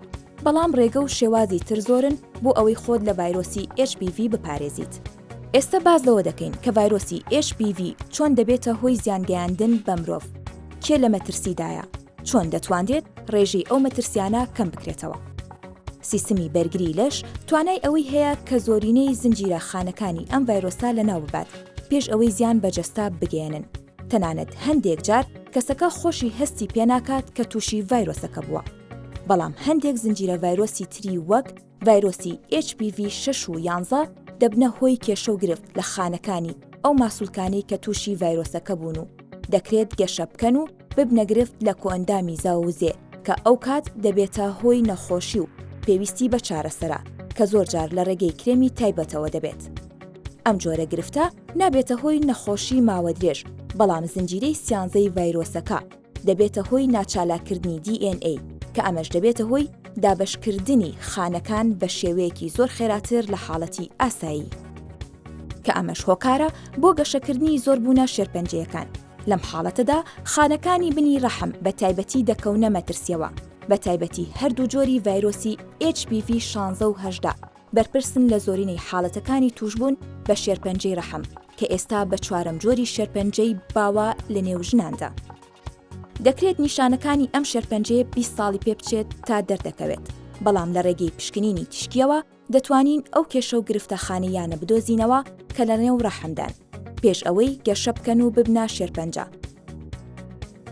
بەڵام ڕێگە و شێوازی تر زۆرن بۆ ئەوەی خۆت لە ڤایرۆسی HPV بپارێزیت. ئێستا باس لەوە دەکەین کە ڤایرۆسی HPV چۆن دەبێتە هۆی زیانگەیاندن بە مرۆڤ، کێ لە مەترسیدایە، چۆن دەتوانرێت ڕێژەی ئەو مەترسیانە کەم بکرێتەوە؟ سیستمی بەرگری لەش توانای ئەوەی هەیە کە زۆرینەی زنجیرە خانەکانی ئەم ڤایرۆسە لەناو ببات پێش ئەوەی زیان بە جەستە بگەیەنن تەنانەت هەندێک جار کەسەکە خۆشی هەستی پێناکات کە تووشی ڤایرۆسەکە بووە بەڵام هەندێک زنجیرە ڤایرۆسی تری وەک ڤایرۆسی HPV شەش و یانزە دەبنە هۆی کێشە و گرفت لە خانەکانی ئەو ماسولکانەی کە تووشی ڤایرۆسەکە بوون و دەکرێت گەشە بکەن و ببنە گرفت لە کۆئەندامی زاووزێ کە ئەو کات دەبێتە هۆی نەخۆشی و پێویستی بە چارەسەرە کە زۆر جار لە ڕێگەی کرێمی تایبەتەوە دەبێت. ئەم جۆرە گرفتە نابێتە هۆی نەخۆشی ماوەدرێژ بەڵام زنجیرەی سیانزەی ڤایرۆسەکە، دەبێتە هۆی ناچالاککردنی DNA، کە ئەمەش دەبێتە هۆی دابەشکردنی خانەکان بە شێوەیەکی زۆر خێراتر لە حاڵەتی ئاسایی، کە ئەمەش هۆکارە بۆ گەشەکردنی زۆربوونە شێرپەنجەیەکان، لەم حاڵەتەدا خانەکانی بنی ڕەحم بە تایبەتی دەکەونە مەترسییەوە، بە تایبەتی هەردوو جۆری ڤایرۆسی HPV شانزە و هەژدە. بەرپرسن لە زۆرینەی حاڵەتەکانی تووشبوون بە شێرپەنجەی ڕەحم، کە ئێستا بە چوارەم جۆری شێرپەنجەی باوە لە نێو ژناندا. دەکرێت نیشانەکانی ئەم شێرپەنجەیە بیست ساڵی پێ بچێت تا دەردەکەوێت، بەڵام لە ڕێگەی پشکنینی تیشکییەوە دەتوانین ئەو کێشە و گرفتە خانەییانە بدۆزینەوە کە لەنێو ڕەحمدان. پێش ئەوەی گەشە بکەن و ببنە شێرپەنجە.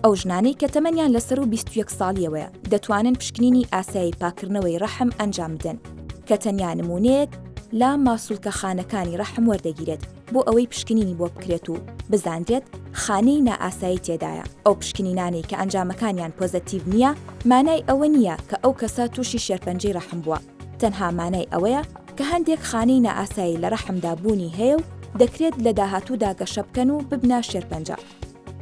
ئەو ژنانەی کە تەمەنیان لە سەرو بیست و یەک ساڵیەوەیە دەتوانن پشکنینی ئاسایی پاککردنەوەی ڕەحم ئەنجام بدەن کە تەنیا نموونەیەک لە ماسولکە خانەکانی ڕەحم وەردەگیرێت بۆ ئەوەی پشکنینی بۆ بکرێت و بزانرێت خانەی نائاسایی تێدایە ئەو پشکنینانەی کە ئەنجامەکانیان پۆزەتیڤ نییە مانای ئەوە نییە کە ئەو کەسە تووشی شێرپەنجەی ڕەحم بووە. تەنها مانای ئەوەیە کە هەندێک خانەی نائاسایی لە ڕەحمدا بوونی هەیە و دەکرێت لە داهاتوودا گەشە بکەن و ببنە شێرپەنجە.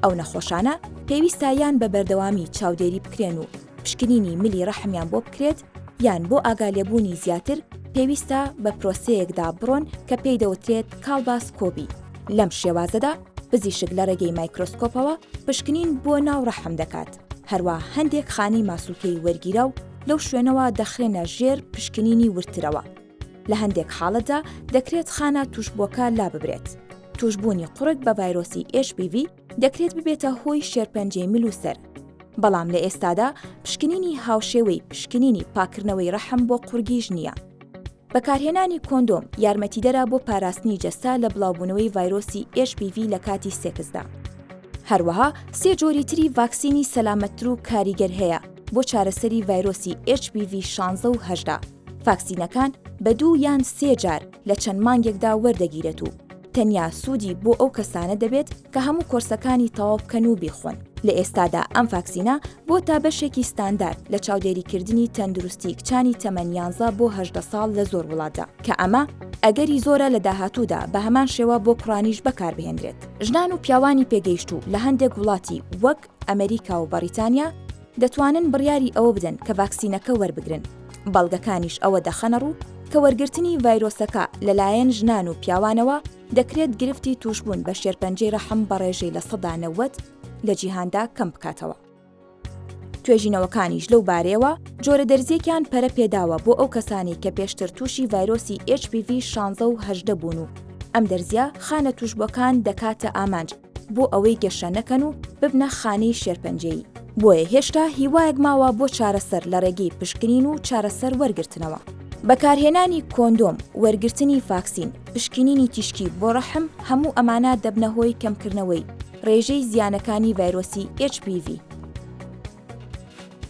ئەو نەخۆشانە پێویستە یان بە بەردەوامی چاودێری بکرێن و پشکنینی ملی ڕەحمیان بۆ بکرێت یان بۆ ئاگالێبوونی زیاتر پێویستە بە پرۆسەیەکدا بڕۆن کە پێی دەوترێت کاڵباسکۆبی. لەم شێوازەدا پزیشک لە ڕێگەی مایکرۆسکۆپەوە پشکنین بۆ ناو ڕەحم دەکات. هەروا هەندێک خانی ماسولکەی وەرگیرا و لەو شوێنەوە دەخرێنە ژێر پشکنینی وردترەوە. لە هەندێک حاڵەتدا دەکرێت خانە تووشبووەکە لاببرێت. تووشبوونی قوڕگ بە ڤایرۆسی HPV دەکرێت ببێتە هۆی شێرپەنجەی مل و سەر. بەڵام لە ئێستادا پشکنینی هاوشێوەی پشکنینی پاککردنەوەی ڕەحم بۆ قوڕگیش نییە. بەکارهێنانی کۆندۆم یارمەتیدەرە بۆ پاراستنی جەستە لە بڵاوبوونەوەی ڤایرۆسی HPV لە کاتی سێکسدا. هەروەها سێ جۆری تری ڤاکسینی سەلامەتتر و کاریگەر هەیە بۆ چارەسەری ڤایرۆسی HPV 16 و 18. ڤاکسینەکان بە دوو یان سێ جار لە چەند مانگێکدا وەردەگیرێت و، تەنیا سوودی بۆ ئەو کەسانە دەبێت کە هەموو کۆرسەکانی تەواو بکەن و بیخۆن. لە ئێستادا ئەم ڤاکسینە بۆتە بەشێکی ستاندارد لە چاودێریکردنی تەندروستی کچانی تەمەن یانزە بۆ هەژدە ساڵ لە زۆر وڵاتدا، کە ئەمە ئەگەری زۆرە لە داهاتوودا بە هەمان شێوە بۆ کوڕانیش بەکاربهێنرێت. ژنان و پیاوانی پێگەیشتوو لە هەندێک وڵاتی وەک، ئەمریکا و بەڕیتانیا دەتوانن بڕیاری ئەوە بدەن کە ڤاکسینەکە وەربگرن، بەڵگەکانیش ئەوە دەخەنەڕوو کە وەرگرتنی ڤایرۆسەکە لەلایەن ژنان و پیاوانەوە دەکرێت گرفتی تووشبوون بە شێرپەنجەی ڕەحم بە ڕێژەی لە سەدا نەوەد لە جیهاندا کەم بکاتەوە. توێژینەوەکانیش لەو بارەیەوە جۆرە دەرزیەکیان پەرە پێداوە بۆ ئەو کەسانەی کە پێشتر تووشی ڤایرۆسی HPV 16 و 18 بوون و ئەم دەرزیە خانە تووشبووەکان دەکاتە ئامانج، بۆ ئەوەی گەشە نەکەن و ببنە خانەی شێرپەنجەیی. بۆیە هێشتا هیوایەک ماوە بۆ چارەسەر لە ڕێگەی پشکنین و چارەسەر وەرگرتنەوە. بەکارهێنانی کۆندۆم، وەرگرتنی فاکسین، پشکنینی تیشکی بۆ ڕەحم هەموو ئەمانە دەبنە هۆی کەمکردنەوەی ڕێژەی زیانەکانی ڤایرۆسی HPV.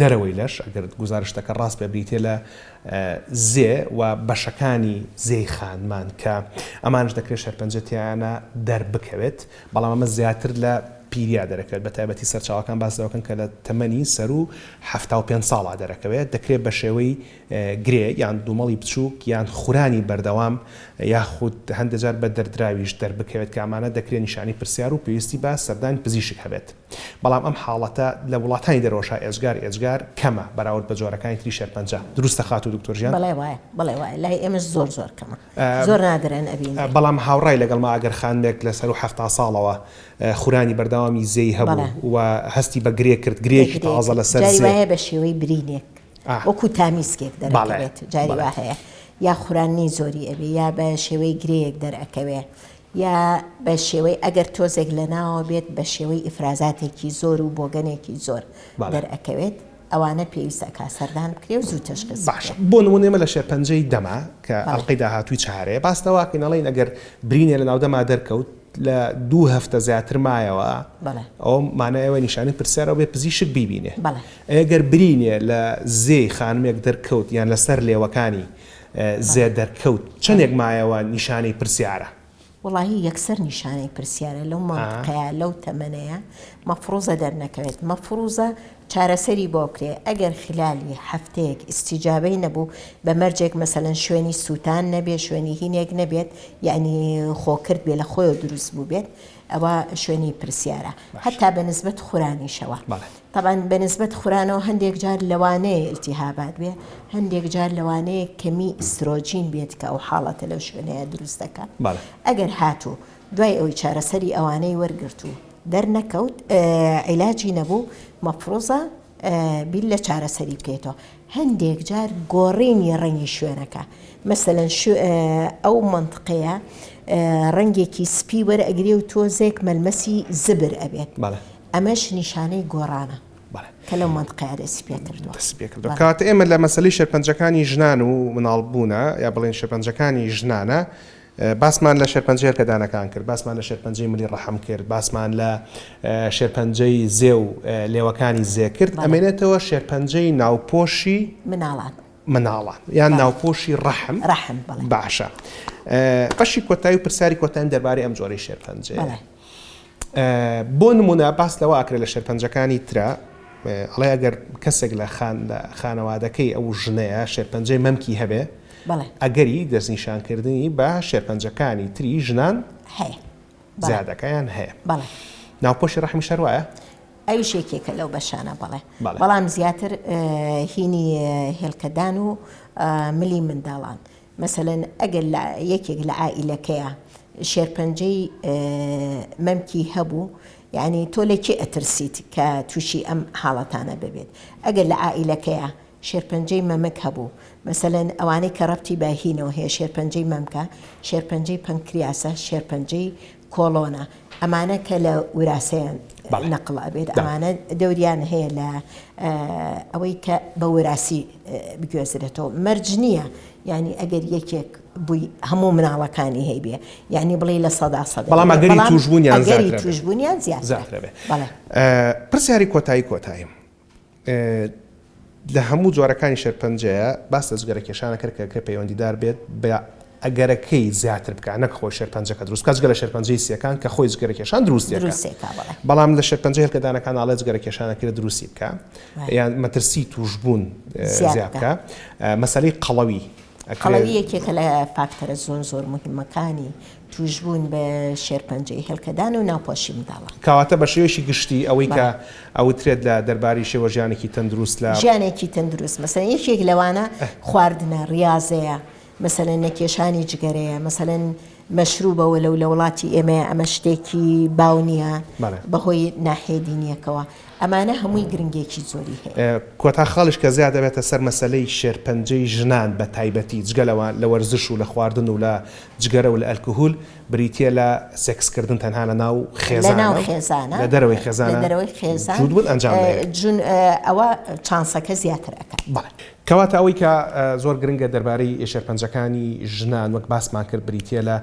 دەرەوەی لەش، ئەگەر گوزارشتەکە ڕاست بێت بریتییە لە زێ و بەشەکانی زێی خانمان کە ئەمانەش دەکرێت شێرپەنجە تێیانە دەربکەوێت، بەڵام ئەمە زیاتر لە پیرییە دەرەکەوێت، بەتایبەتی سەرچاوەکان باس لەوەکەن کە لە تەمەنی سەروو حەفتا و پێنج ساڵا دەرەکەوێت، دەکرێت بەشێوەی گرێ یان دوومەڵی بچووک یان خورانی بەردەوام یاخود هەندێجار بە دەردراویش دەربکەوێت کە ئەمانە دەکرێت نیشانەی پرسیار و پێویستی بە سەردانی پزیشک هەبێت. بەڵام ئەم حاڵەتە لە وڵاتانی دەرەوە شا ئێجگار ئێجگار کەمە بەراورد بە جۆرەکانی تری شێرپەنجە دروستە خاتوو دکتۆر ژیان؟ بەڵێ وایە بەڵێ وایە لای ئێمەش زۆر زۆر کەمە زۆر نادرن ئەبینرێ. بەڵام هاوڕای لەگەڵمە ئەگەر خانمێک لە سەروو حەفتا ساڵەوە خورانی بەردەوامی زێی هەبوو بەڵێ. و هەستی بە گرێ کرد گرێیەکی گرێ تازە کرد لەسەر جاری زێ وایە بە شێوەی برینێک ئا وەکوو تامیسکێک بەڵێ دەرەکەوێت جاری بەڵێ. وا هەیە یا خوراننی زۆری ئەبێ یا بە شێوەی گرێیەک دەرئەکەوێ یا بە شێوەی ئەگەر تۆزێک لە ناوەوە بێت بە شێوەی ئیفرازاتێکی زۆر و بۆگەنێکی زۆر دەرئەکەوێت، ئەوانە پێویستە ئەکا سەردان بکرێ و زوو تەشخیص بکرێ. باشە بۆ نموونە ئێمە لە شێرپەنجەی دەما کە ئەڵقەی داهاتووی چارەیە باس لەوە ئەکەین ئەڵێین ئەگەر برینێ لە ناو دەما دەرکەوت لە دوو هەفتە زیاتر مایەوە ئەوە مانای ئەوەیە نیشانەی پرسیارە و بێ پزیشک بیبینێ ئەی ئەگەر برینێ لە زێی خانمێک دەرکەوت یان لە سەر لێوەکانی زێ دەرکەوت چەنێک مایەوە نیشانەی پرسیارە. وەڵاهی یەکسەر نیشانەی پرسیارە لەو مەنتقەیە لەو تەمەنەیە مەفڕوزە دەرنەکەوێت مەفڕوزە چارەسەری بۆ بکرێ ئەگەر خلالی هەفتەیەک ئیستیجابەی نەبوو بە مەرجێک مەسەلەن شوێنی سووتان نەبێ شوێنی هینێک نەبێت یەعنی خۆکرد بێ لە خۆیەوە دروست بووبێت ئەوە شوێنی پرسیارە هەتا بە نسبەت خورانیشەوە. بەڵێ. تەبعەن بە نسبەت خورانەوە هەندێک جار لەوانەیە ئیلتیهابات بێ هەندێک جار لەوانەیە کەمی ئیسترۆجین بێت کە ئەو حاڵەتە لەو شوێنەیە دروست دەکا ئەگەر هاتوو دوای ئەوی چارەسەری ئەوانەی وەرگرت و دەرنەکەوت عیلاجی نەبوو مەفرۆزە بیر لە چارەسەری بکەیتەوە هەندێک جار گۆڕینی ڕەنگی شوێنەکە مەسەەن ئەو منطقەیە ڕەنگێکی سپی وەرەگرێ و تۆزێک مەلمەسی زبر ئەبێت ئەمەش نیشانەی گۆڕانە کە لەو مەنتقەیە دەستی پێ کردووە. دەستی پێ کردووە. کەواتە ئێمە لە مەسەلەی شێرپەنجەکانی ژنان و منداڵبوونە، یا بڵێین شێرپەنجەکانی ژنانە، باسمان لە شێرپەنجەی هێلکەدانەکان کرد، باسمان لە شێرپەنجەی ملی ڕەحم کرد، باسمان لە شێرپەنجەی زێ و لێوەکانی زێ کرد، ئەمێنێتەوە شێرپەنجەی ناوپۆشی مناڵان. مناڵان یان ناوپۆشی ڕەحم ڕەحم باشە بەشی کۆتایی و پرسیاری کۆتاییم دەربارەی ئەم جۆرەی شێرپەنجەیە بۆ نموونە باس لەوە ئەکرێت لە شێرپەنجەکانی ترە ئەڵێ ئەگەر کەسێک لە خانەوادەکەی ئەو ژنەیە شێرپەنجەی مەمکی هەبێ ئەگەری دەستنیشانکردنی بە شێرپەنجەکانی تری ژنان زیادەکەیان هەیە ناوپۆشی ڕەحمی شەروایە؟ ئەویش یەکێکە لەو بەشانە بەڵێ بەڵام زیاتر هینی هێلکەدان و ملی منداڵان مەسەلەن ئەگەر لە یەکێک لە عائیلەکەیا شێرپەنجەی مەمکی هەبوو یانی تۆ لە کێ ئەترسیت کە تووشی ئەم حاڵەتانە ببێت ئەگەر لە عائیلەکەیا شێرپەنجەی مەمک هەبوو مەسەلەن ئەوانەی کە ڕەبتی بە هینەوە هەیە شێرپەنجەی مەمکە شێرپەنجەی پەنکریاسە شێرپەنجەی کۆڵۆنە ئەمانە کە لە وراسەیان نەقڵ ئەبێت ئەمانە دەوریان هەیە لە ئەوەی کە بە وراسی بگوێزرێتەوە مەرج نییە ینی ئەگەر یەکێک بووی هەموو مناڵەکانی هەیبێ یعنی بڵێ لە سەدا سە بەڵام ئەگەری توشبوونیان توشبوونیان زیاترەبێ پرسیاری کۆتایی کۆتاییم لە هەموو جۆرەکانی شێرپەنجەیە، باس لە جگەرە کێشانە کرد کە کە پەیوەندیدار بێت بە ئەگەرەکەی زیاتر بکات نەک خۆی شێرپەنجەکە دروست بکات جگە لە شێرپەنجەی سییەکان کە خۆی جگەرە کێشان دروستی دەکات دروستی ئەکا بەڵێ. بەڵام لە شێرپەنجەی هێلکەدانەکان ئاڵێ جگەرە کێشانە کرێ دروستی بکا بەڵێ. یان مەترسی تووشبوون زیاد زیاد بکا. بکا مەسەلەی قەڵەوی ئەکرێ. قەڵەوی یەکێکە لە فاکتەرە زۆر زۆر موهیمەکانی تووشبوون بە شێرپەنجەی هێلکەدان و ناوپۆشی منداڵان. کەواتە بە شێوەیەکی گشتی ئەوەی کە بەڵێ. ئەوترێت لە دەربارەی شێوە ژیانێکی تەندروست لە. ژیانێکی تەندروست مەسەلەن یەکێک لەوانە خواردنە، ریازەیە، مەسەلەن نەکێشانی جگەرەیە، مەسەلەن مەشروبە و لەو لە وڵاتی ئێمەیە ئەمە شتێکی باو نییە بەڵێ. بە هۆی ناحیەی دینییەکەوە. ئەمانە هەمووی گرنگێکی زۆری هەیە. کۆتا خاڵیش کە زیا دەبێتە سەر مەسەلەی شێرپەنجەی ژنان بە تایبەتی جگە لەوە لە وەرزش و لە خواردن و لە جگەرە و لە ئەلکهول، بریتییە لە سێکس کردن تەنها لە ناو خێزانە و لە دەرەوەی خێزانە جووت بوون ئەنجام دەگرێت. ئەوە چانسەکە زیاتر ئەکات. بەڵێ. کەواتە ئەوەی کە زۆر گرنگە دەربارەی شێرپەنجەکانی ژنان وەک باسمان کرد بریتییە لە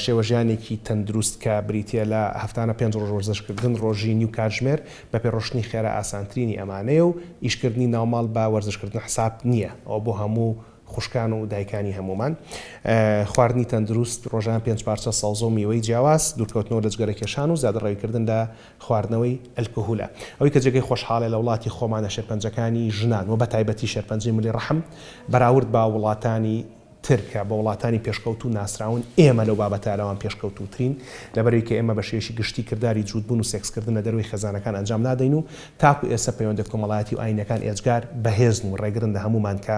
شێوەژیانێکی تەندروست کە بریتییە لە هەفتانە پێنج ڕۆژ وەرزش کردن، ڕۆژی نیو کاتژمێر بە پێ ڕۆشتنی خێرا ئاسانترینی ئەمانەیە و ئیشکردنی ناوماڵ بە وەرزش کردن حساب نییە، ئەوە بۆ هەموو خوشکان و دایکانی هەموومان. خواردنی تەندروست، ڕۆژانە پێنج پارچە سەوزە و میوەی جیاواز، دوورکەوتنەوە لە جگەرەکێشان و زیادەڕەویکردن لە خواردنەوەی ئەلکهولە. ئەوەی کە جێگەی خۆشحاڵیە لە وڵاتی خۆمانە شێرپەنجەکانی ژنان و بەتایبەتی شێرپەنجەی ملی ڕەحم بەراورد بە وڵاتانی تر کە بە وڵاتانی پێشکەوتوو ناسراون ئێمە لەو بابەتە لەوان پێشکەوتووترین لەبەرەوەی کە ئێمە بە شێوەیەکی گشتی کرداری جووتبوون و سێکسکردن لە دەرەوەی خێزانەکان ئەنجام نادەین و تاکو ئێستا پەیوەندە کۆمەڵایەتی و ئاینیەکان ئێجگار بەهێزن و ڕێگرن لە هەموومان کە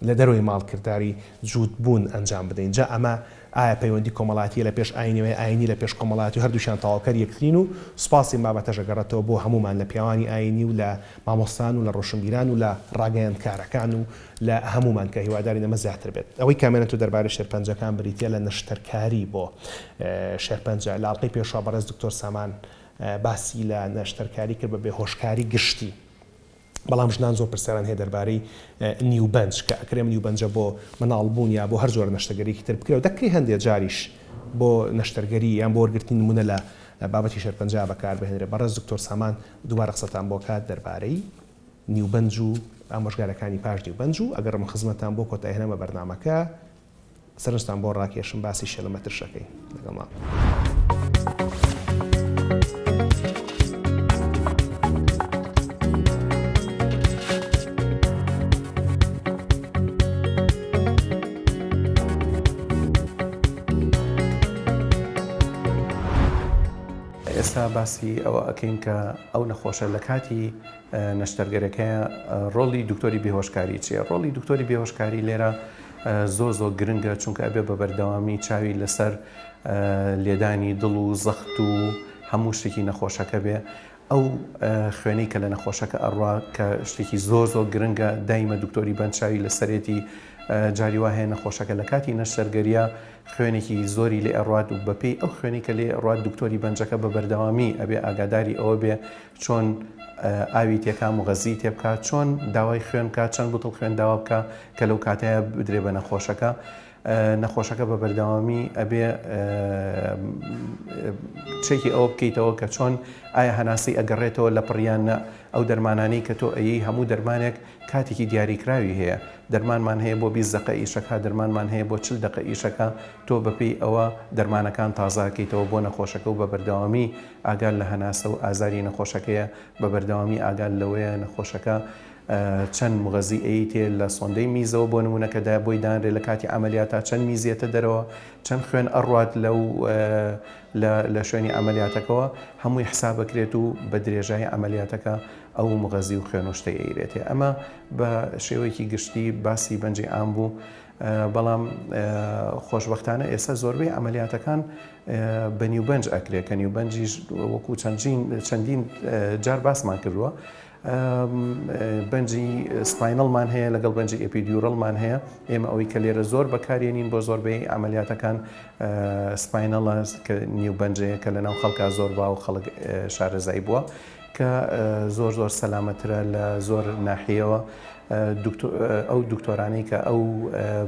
لە دەرەوەی ماڵ کرداری جووت بوون ئەنجام بدەین جا ئەمە ئایا پەیوەندی کۆمەڵایەتیە لە پێش ئاینی و یا ئاینی لە پێش کۆمەڵایەتی و هەردووکیان تەواوکەر یەکترین و سوپاس یم بابەتەش ئەگەڕێتەوە بۆ هەموومان لە پیاوانی ئاینی و لە مامۆستایان و لە ڕۆشنبیران و لە ڕاگەیەندکارەکان و لە هەموومان کە هیوادارین ئەمە زیاتر بێت. ئەوەی کامێنتۆ دەربارەی شێرپەنجەکان بریتیە لە نەشتەرکاری بۆ شێرپەنجە لە ئەڵقەی پێشوە بەڕێز دکتۆر سامان باسی لە نەشتەرکاری کرد بە بێهۆشکاری گشتی، بەڵام ژنان زۆر پرسیاران هەیە دەربارەی نیوبەنج کە ئەکرێ ئەم نیوبەنجە بۆ منداڵ بوون یا بۆ هەر جۆرە نەشتەگەریەکی تر بکرێ و دەکرێ هەندێ جاریش بۆ نەشتەرگەری یان بۆ وەرگرتنی نموونە لە بابەتی شێرپەنجە بەکار بهێنرێ بەڕێز دکتۆر سامان دووبارە قسەتان بۆ کات دەربارەی نیوبەنج و ئامۆژگارەکانی پاش نیوبەنج و ئەگەڕم خزمەتان بۆ کۆتایهێنان بە بەرنامەکە سەرنجتان بۆ ڕاکێشم باسی شێلە مەترشەکەی لەگەڵ مام. ئێستا باسی ئەوە ئەکەین کە ئەو نەخۆشە لە کاتی نەشتەرگەرەکەی ڕۆڵی دکتۆری بێهۆشکاری چیە ڕۆڵی دکتۆری بێهۆشکاری لێرە زۆر زۆر گرنگە چونکە ئەبێ بە بەردەوامی چاوی لەسەر لێدانی دڵ و زەخت و هەموو شتێکی نەخۆشەکە بێ ئەو خوێنی کە لە نەخۆشەکە ئەڕوا کە شتێکی زۆر زۆر گرنگە دایمە دکتۆری بەنچوی لەسەرێتی جاری وا هەیە نەخۆشەکە لە کاتی نەشتەرگەریە خوێنێکی زۆری لێ ئەڕات و بەپی ئەو خوێنی کە لێ ڕات دکتۆری بەنجەکە بە بەردەوامی ئەبێ ئاگاداری ئەوە بێ چۆن ئاوی تێکا مغەززیی تێ بکا، چۆن داوای خوێن بکا، چەند بوتڵ خوێن داوا بکا کە لەو کاتەیا بدرێ بە نەخۆشەکە. نەخۆشەکە بە بەردەوامی ئەبێ چەکی ئەوە بکەیتەوە کە چۆن ئایا هەناسەی ئەگەڕێتەوە لە پڕیان نە ئەو دەرمانانەی کە تۆ ئەیی هەموو دەرمانێک کاتێکی دیاریکراوی هەیە دەرمانمان هەیە بۆ بیست دقە ئیشەکە دەرمانمان هەیە بۆ چل دقە ئیشەکە تۆ بەپێی ئەوە دەرمانەکان تازاکەیتەوە بۆ نەخۆشەکە و بە بەردەوامی ئاگال لە هەناسە و ئازاری نەخۆشەکەیە، بە بەردەوامی ئاگال لەوەیە نەخۆشەکە چەند مغەزی ەی تێ لە سۆندەی میزەوە بۆ نموونە کە دە بۆی دانرێ لە کاتی عەمەلیاتا چەند میز یەتە دەرەوە چەند خوێن ئەڕوات لەو لە لە شوێنی عەمەلیاتەکەوە هەمووی حساب ئەکرێت و بە درێژایی عەمەلیاتەکە ئەو مغەزی و خوێن و شتەی ئەیرێتێ ئەمە بە شێوەیەکی گشتی باسی بەنجی ئام بوو بەڵام خۆشبەختانە ئێستا زۆربەی عەمەلیاتەکان بە نیوبەنج ئەکرێ کە نیوبەنجیش وەکو چەندین جار باسمان کردووە بەنجی سپاینەڵمان هەیە لەگەڵ بەنجی ئەپیدیورەڵمان هەیە ئێمە ئەوەی کە لێرە زۆر بەکارێنین بۆ زۆربەی ئەعملیاتەکان سپاینەڵە کە نیوبەنجەیە کە لەناو خەڵکا زۆر باو خەڵک شارەزای بووە کە زۆر زۆر سەلامەترە لە زۆر ناحیەوە ئەو دکتۆرانەی کە ئەو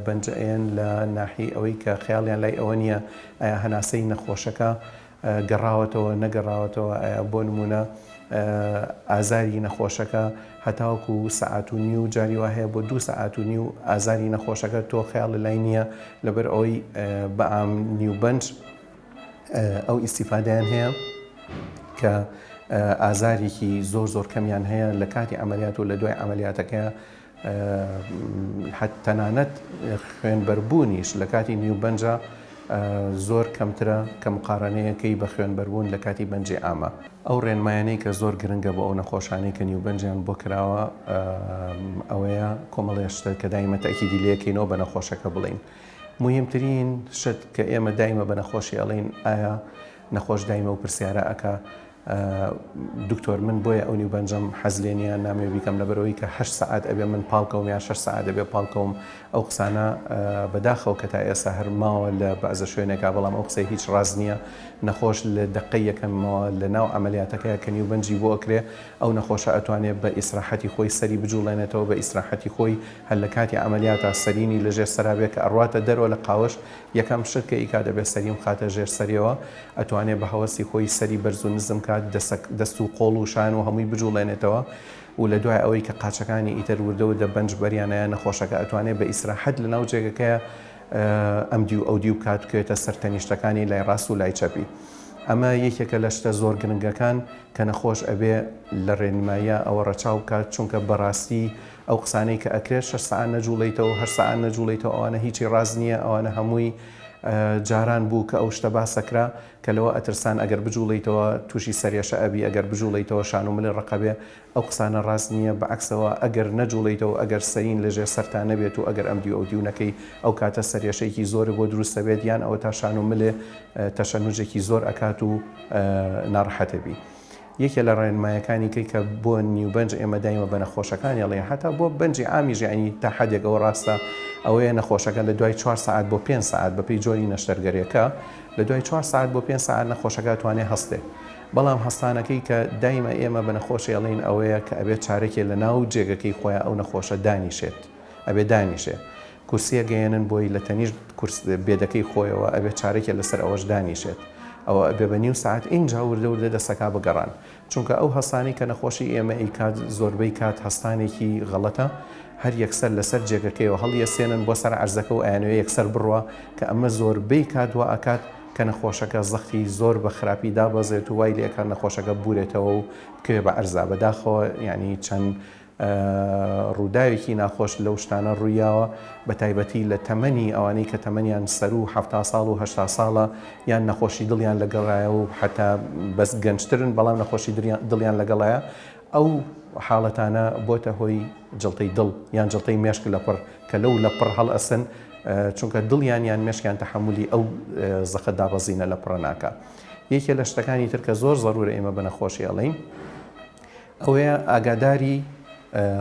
بەنجەیەن لە ناحی ئەوەی کە خیاڵیان لای ئەوە نییە ئایا هەناسەی نەخۆشەکە گەڕاوەتەوە نەگەڕاوەتەوە ئایا بۆ نمونە ئازاری نەخۆشەکە هەتاوکو و سەعات و نی و جاری وا هەیە بۆ دوو سەعات و نی و ئازاری نەخۆشەکە تۆ خیاڵ لای نییە لەبەر ئەوەی بە ئام نیوبەنج ئەو ئیسیفادەیان هەیە کە ئازارێکی زۆر زۆر کەمیان هەیە لە کاتی ئەعملیات و لە دوای ئەعملیاتەکە حەت تەنانەت خوێنبەربوونیش لە کاتی نیوبەنجە زۆر کەمترە کە مقارانەیەکەی بە خوێنبەربوون لە کاتی بەنجێ ئامە ئەو ڕێنمایانەی کە زۆر گرنگە بۆ ئەو نەخۆشانەی کە نیوبەنجیان بۆ کراوە ئەوەیە کۆمەڵێشتە کە دایمە تاکیدی لەکەینەوە بە نەخۆشەکە بڵین. موهیمترین شت کە ئێمە دایمە بە نەخۆشی ئەڵین ئایا نەخۆش دایمە و پرسیارە ئەکا دکتۆر من بۆیە ئەونی بەنجەم حەز لێ نیە نامێ بیکەم لەبەرەوەی کە هە سعات ئەبێ من پاڵکەوم یا شش سعات دەبێ پاڵکەوم ئەو قسانە بەداخەوە کە تا ئێستا هەر ماوە لە بەعزە شوێنێکا بەڵام ئەو قسەی هیچ ڕاز نییە نەخۆش لە دقی یەکەمەوە لە ناو ئەعملیاتەکەی کە نیوبەنجی بۆ ئەکرێ ئەو نەخۆشە ئەتوانێت بە ئیسراحەتی خۆی سەری بجوڵێنێتەوە بە ئیسراحەتی خۆی هەر لە کاتی عەمەلیاتا سەرینی لە ژێر سەرا بێ کە ئەڕواتە دەرەوە لە قاوەش یەکەم شت کە ئیکا دەبێ سەری بخاتە ژێر سەریەوە ئەتوانێ بە هەوەسی خۆی سەری بەرز و نزم کات دەسە دەست و قۆڵ و شان و هەمووی بجوڵێنێتەوە و لە دوای ئەوەی کە قاچەکانی ئیتر وردە وردە بەنج بەریانایە نەخۆشەکە ئەتوانێ بە ئیسراحەت لە ناو جێگەکەیا ئەمدیو ئەودیو بکات بکەوێتە سەر تەنیشتەکانی لای ڕاست و لای چەپی ئەمە یەکێکە لە شتە زۆر گرنگەکان کە نەخۆش ئەبێ لە ڕێنماییا ئەوە ڕەچاو بکات چونکە بە ڕاستی ئەو قسانەی کە ئەکرێت شەش سەعات نەجوڵێیتەوەو هەشت سەعات نەجوڵێیتەوە ئەوانە هیچی ڕاست نیە ئەوانە هەمووی جاران بوو کە ئەو شتە باسەکرا کە لەوە ئەترسان ئەگەر بجوڵێیتەوە تووشی سەرێشە ئەبی ئەگەر بجوڵێیتەوە شان و ملی ڕەقەبێ ئەو قسانە ڕاست نیە بەعەکسەوە ئەگەر نەجوڵێیتەوە ئەگەر سەرین لەژێر سەرتا نەبێت و ئەگەر ئەمدیو ئەودیو نەکەی ئەو کاتە سەرێشەیەکی زۆرت بۆ دروست ئەبێت یان ئەوەتا شان و ملێ تەشەنوجێکی زۆر ئەکات و ناڕەحەت ئەبی یەکێ لە ڕێنمایەکانی کەی کە بۆ نیو بەنج ئێمە دایمە بە نەخۆشەکانی ئەڵێ حەتا بۆ بەنجی عامیش یەعنی تا حەدێک ئەوە ڕاستە ئەوەیە نەخۆشەکە لە دوای چوار سەعات بۆ پێنج سەعات بە پێی جۆری نەشتەرگەرێکە لە دوای چوار سەعات بۆ پێنج سەعات نەخۆشەکە ئەتوانێ هەستێ بەڵام هەستانەکەی کە دایمە ئێمە بە نەخۆشێ ئەڵێین ئەوەیە کە ئەبێ چارەکێ لە ناو جێگەکەی خۆیان ئەو نەخۆشە دانیشێت ئەبێ دانیشێ کورسیە گەیەنن بۆی لە تەنیشت کورس بێدەکەی خۆیەوە ئەبێ چارەکێ لەسەر ئەوەش دانیشێت ئەوە ئەبێ بە نیو سەعات ئینجا وردە وردە دەستەکا بگەڕان چونکە ئەو هەستانەی کە نەخۆشی ئێمە ئەیکات زۆربەی کات هەستانێکی غەڵەتە هەر یەکسەر لەسەر جێگەکەیەوە هەڵیەسێنن بۆ سەر عەرزەکە و ئەیانەوێ یەکسەر بڕوا کە ئەمە زۆربەی کات وا ئەکات کە نەخۆشەکە زەختی زۆر بە خراپی دابەزێت و وای لێ ئەکات نەخۆشەکە بورێتەوە و بکەوێ بە عەرزا بەداخەوە یانی چەند ڕووداوێکی ناخۆش لەو شتانە ڕوویاوە بە تایبەتی لە تەمەنی ئەوانەی کە تەمەنیان سەروو حەفتا ساڵ و هەشتا ساڵە یان نەخۆشی دڵیان لەگەڵایە و حەتا بەس گەنجترن بەڵام نەخۆشی دڵیان لەگەڵایە ئەو حاڵەتانە بۆتە هۆی جڵتەی دڵ یان جڵتەی مێشک لە پڕ کە لەو لە پڕ هەڵ ئەسن چونکە دڵیان یان مێشکیان تەحملی ئەو زەخە دابەزینە لە پڕە ناکە یەکێ لە شتەکانی تر کە زۆر زەرورە ئێمە بە نەخۆشی ئەڵین ئەوەیە ئاگاداری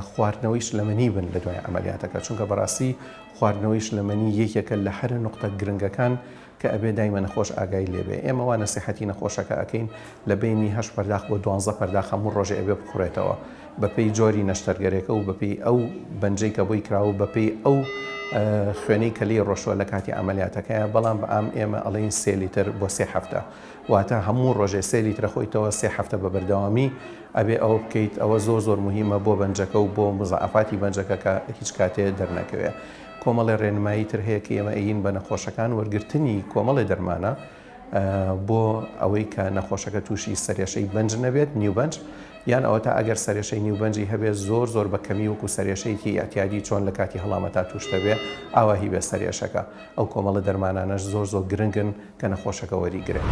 خواردنەوەی شلەمەنی بن لە دوای عەمەلیاتەکە چونکە بەڕاستی خواردنەوەی شلەمەنی یەکێکە لە هەرە نقطە گرنگەکان کە ئەبێ دایمە نەخۆش ئاگای لێبێ ئێمە وا نەسیحەتی نەخۆشەکە ئەەکەین لە بینی هەش پەرداخ بۆ دوانزە پەرداخ هەموو ڕۆژێ ئەبێ بخوڕێتەوە بەپێی جۆری نەشتەرگەرێکە و بەپی ئەو بەنجەی کە بۆی کراوە بەپێی ئەو خوێنەی کە لی ڕۆشوە لە کاتی عملیاتەکەیە بەڵام بە ئام ئێمە ئەڵین سێلیتر بۆ سێ هەفتە واتە هەموو ڕۆژێ سێ لیترە خۆیتەوە سێ هەفتە بە بەردەوامی ئەبێ ئەوە بکەیت ئەوە زۆر زۆر مهمە بۆ بەنجەکە و بۆ مزەعەفاتی بەنجەکە کە هیچ کاتێ دەرنەکەوێ کۆمەڵێ ڕێنمایی تر هەیە کە ئێمە ئەین بە نەخۆشەکان وەرگرتنی کۆمەڵێ دەرمانە بۆ ئەوەی کە نەخۆشەکە تووشی سەرێشەی بەنج نەبێت نیوبەنج یان ئەوە تا ئەگەر سەرێشەی نیوبەنجی هەبێت زۆر زۆر بە کەمی وەکو سەرێشەیەکی ئەتیادی چۆن لە کاتی هەڵامەتا توشتەبێ ئاواهی بێ سەرێشەکە ئەو کۆمەڵە دەرمانانەش زۆر زۆر گرنگن کە نەخۆشەکە وەری گرێت.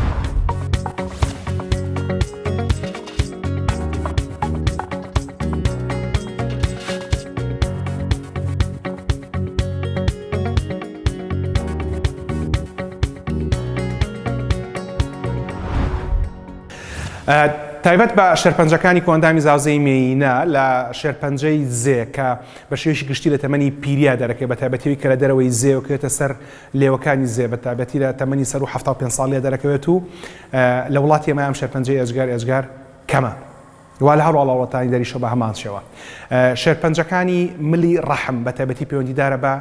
تایبەت بە شێرپەنجەکانی کۆندامی زاوزێی مێینە لە شێرپەنجەی زێ کە بە شێوەیەکی گشتی لە تەمەنی پیریا دەرەکەی بە تایبەتیوی کە لە دەرەوەی زێوکرێتە سەر لێوەکانی زێ بە تایبەتی لە تەمەنی سەروو حەفتا و پێنج ساڵ لێ دەرەکەوێت و لە وڵاتی ئێمە ئەم شێرپەنجەی ئێجگار ئێجگار کەمە وا لە هەروەڵا وڵاتانی دەریشە بە هەمان شێوە شێرپەنجەکانی ملی ڕەحم بە تایبەتی پەیوەندیدارە بە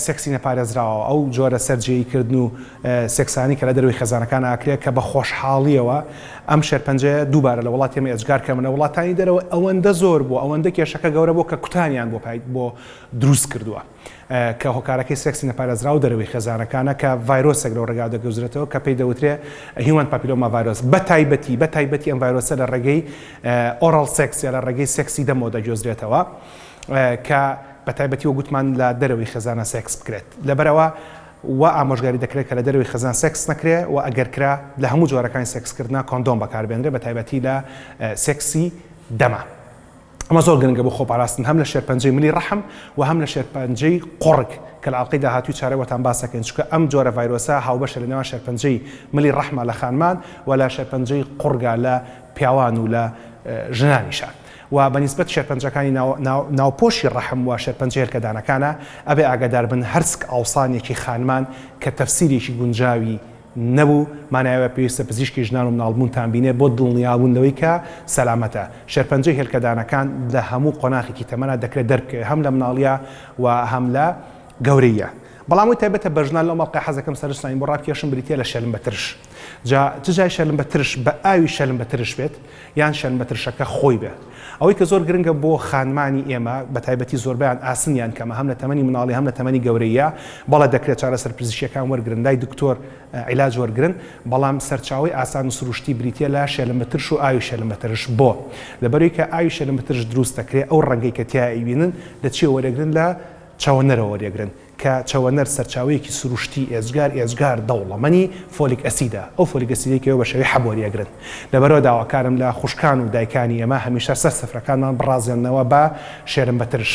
سێکسی نەپارێزراوە ئەو جۆرە سەررجەیی کردن و سێکسانی کە لە دەروی خێزانەکان ئاکرێت کە بە خۆشحاڵیەوە ئەم شێرپەنجە دووبارە لە وڵاتیمە ئێجگار کە منە وڵاتانی دەرەوە ئەوەندە زۆر بوو ئەوەندە کێشەکە گەورە بۆ کە کوتانیان بۆ پایت بۆ دروست کردووە. کە هۆکارەکەی سێکسی نەپارێزراو دەرەوەی خێزانەکانە کە ڤایرۆسێک لەو ڕێگاوە دەگوزرێتەوە کە پێی دەوترێ هیومەن پاپیلۆما ڤایرۆس بە تایبەتی بە تایبەتی ئەم ڤایرۆسە لە ڕێگەی ئۆڕاڵ سێکس یا لە ڕێگەی سێکسی دەمەوە دەگوێزرێتەوە کە بە تایبەتی وەک گوتمان لە دەرەوەی خێزانە سێکس بکرێت لەبەرەوە وا ئامۆژگاری دەکرێت کە لە دەرەوەی خێزان سێکس نەکرێ و ئەگەر کرا لە هەموو جۆرەکانی سێکسکردنا کۆندۆم بەکاربێنرێ بە تایبەتی لە سێکسی دەمە. ئەمە زۆر گرنگە بۆ خۆپاراستن هەم لە شێرپەنجەی ملی ڕەحم و هەم لە شێرپەنجەی قوڕگ کە لە ئەڵقەی داهاتووی چارەوەتان باس دەکەین چونکە ئەم جۆرە ڤایرۆسە هاوبەشە لە نێوان شێرپەنجەی ملی ڕەحمە لە خانمان و لە شێرپەنجەی قوڕگە لە پیاوان و لە ژنانیشە و بە نیسبەت شێرپەنجەکانی ناوپۆشی ڕەحم و شێرپەنجە هێلکەدانەکانە ئەبێ ئاگادار بن هەرسک ئاوسانێکی خانمان کە تەفسیرێکی گونجاوی نەبوو، مانای ئەوەیە پێویستە پزیشکی ژنان و مناڵبوونتان بینێت بۆ دڵنیابوون لەوەی کە سەلامەتە. شێرپەنجەی هێلکەدانەکان لە هەموو قۆناخێکی تەمەنا دەکرێت دەربکەوێت، هەم لە مناڵییە و هەم لە گەورەییە. بەڵام ئەوەی تایبەتە بە ژنان، لەو مەڵقەیە حەز دەکەم سەرنجتانی بۆ ڕابکێشم، بریتییە لە شەلمبە ترش. جا چ جای شەلمبە ترش، بە ئاوی شەلمبە ترش بێت، یان شەنبە ترشەکە خۆی بێت. ئەوەی کە زۆر گرنگە بۆ خانمانی ئێمە، بە تایبەتی زۆربەیان ئاسنیان کەمە، هەم لە تەمەنی منداڵی هەم لە تەمەنی گەورەییا، بەڵێ دەکرێت چارەسەر پزیشکیەکان وەرگرن، لای دکتۆر عیلاج وەرگرن، بەڵام سەرچاوەی ئاسان و سروشتی بریتیە لە شێلمە ترش و ئاوی شێلمە ترش، بۆ؟ لەبەرەوەی کە ئاوی شێلمە ترش دروست دەکرێت، ئەو ڕەنگەی کە تیایا ئەیبینن لە چیەوە وەریەگرن لە چاوەنەرەوە وەریەگرن، کە چەوەنەر سەرچاوەیەکی سروشتی ئێجگار ئێجگار دەوڵەمەنی فۆلیک ئەسیدە، ئەو فۆلیک ئەسیدەی کە ئێوە بە شێوەی حەب وەریئەگرن. لەبەرئەوە داواکارم لە خوشکان و دایکانی ئێمە هەمیشە سەر سفرەکانمان بڕازێننەوە بە شێرمبەترش.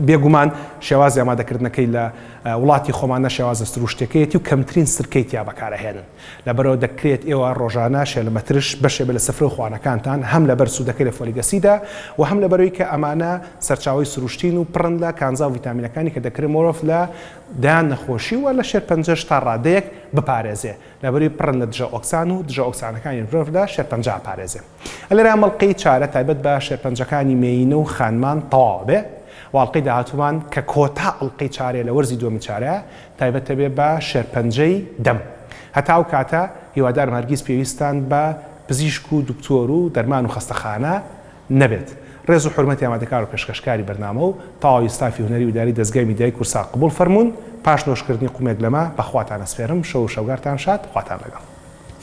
بێگومان شێوازی ئامادەکردنەکەی لە وڵاتی خۆماندا شێوازە سروشتیەکەیەتی و کەمترین سرکەی تیا بەکارئەهێنن. لەبەرئەوە دەکرێت ئێوە ڕۆژانە شێلمەترش بەشێ بێت لە سفرە و خوانەکانتان، هەم لەبەر سوودەکەی لە فۆلیک ئەسیدە و هەم لەبەرئەوەی کە ئەمانە سەرچاوەی سروشتین و پڕن لە کانزا و ڤیتامینەکانی کە دەکرێت مۆرۆڤ لە دەیان نەخۆشی و لە شێرپەنجەش تا ڕادەیەک بپارێزێ لەبەرئەوەی پڕن لە دژە ئۆکسان و دژە ئۆکسانەکانی مرۆڤ لە شێرپەنجە ئەپارێزێ. ئەلێرا مەڵقەی چارە تایبەت بە شێرپەنجەکانی مێیینە و خانمان تەواو ئەبێ و ئەڵقەی داهاتوومان کە کۆتا ئەڵقەی چارەیە لە وەرزی دووەمی چارە تایبەتە بێ بە شێرپەنجەی دەم. هەتا ئەو کاتە هیوادارم هەرگیز پێویستتان بە پزیشک و دکتۆر و دەرمان و خەستەخانە نەبێت. رێز و حورمەتی ئامادەکار و پێشکەشکاری بەرنامە و تەواوی ستافی هونەری و ئیداری دەزگای میدیایی کورسات قبوڵ فەرموون پاش نۆشکردنی قومێک لەمە بەخواتان ئەسپێرم شەو و شەوگارتان شاد خواتان لەگەڵ.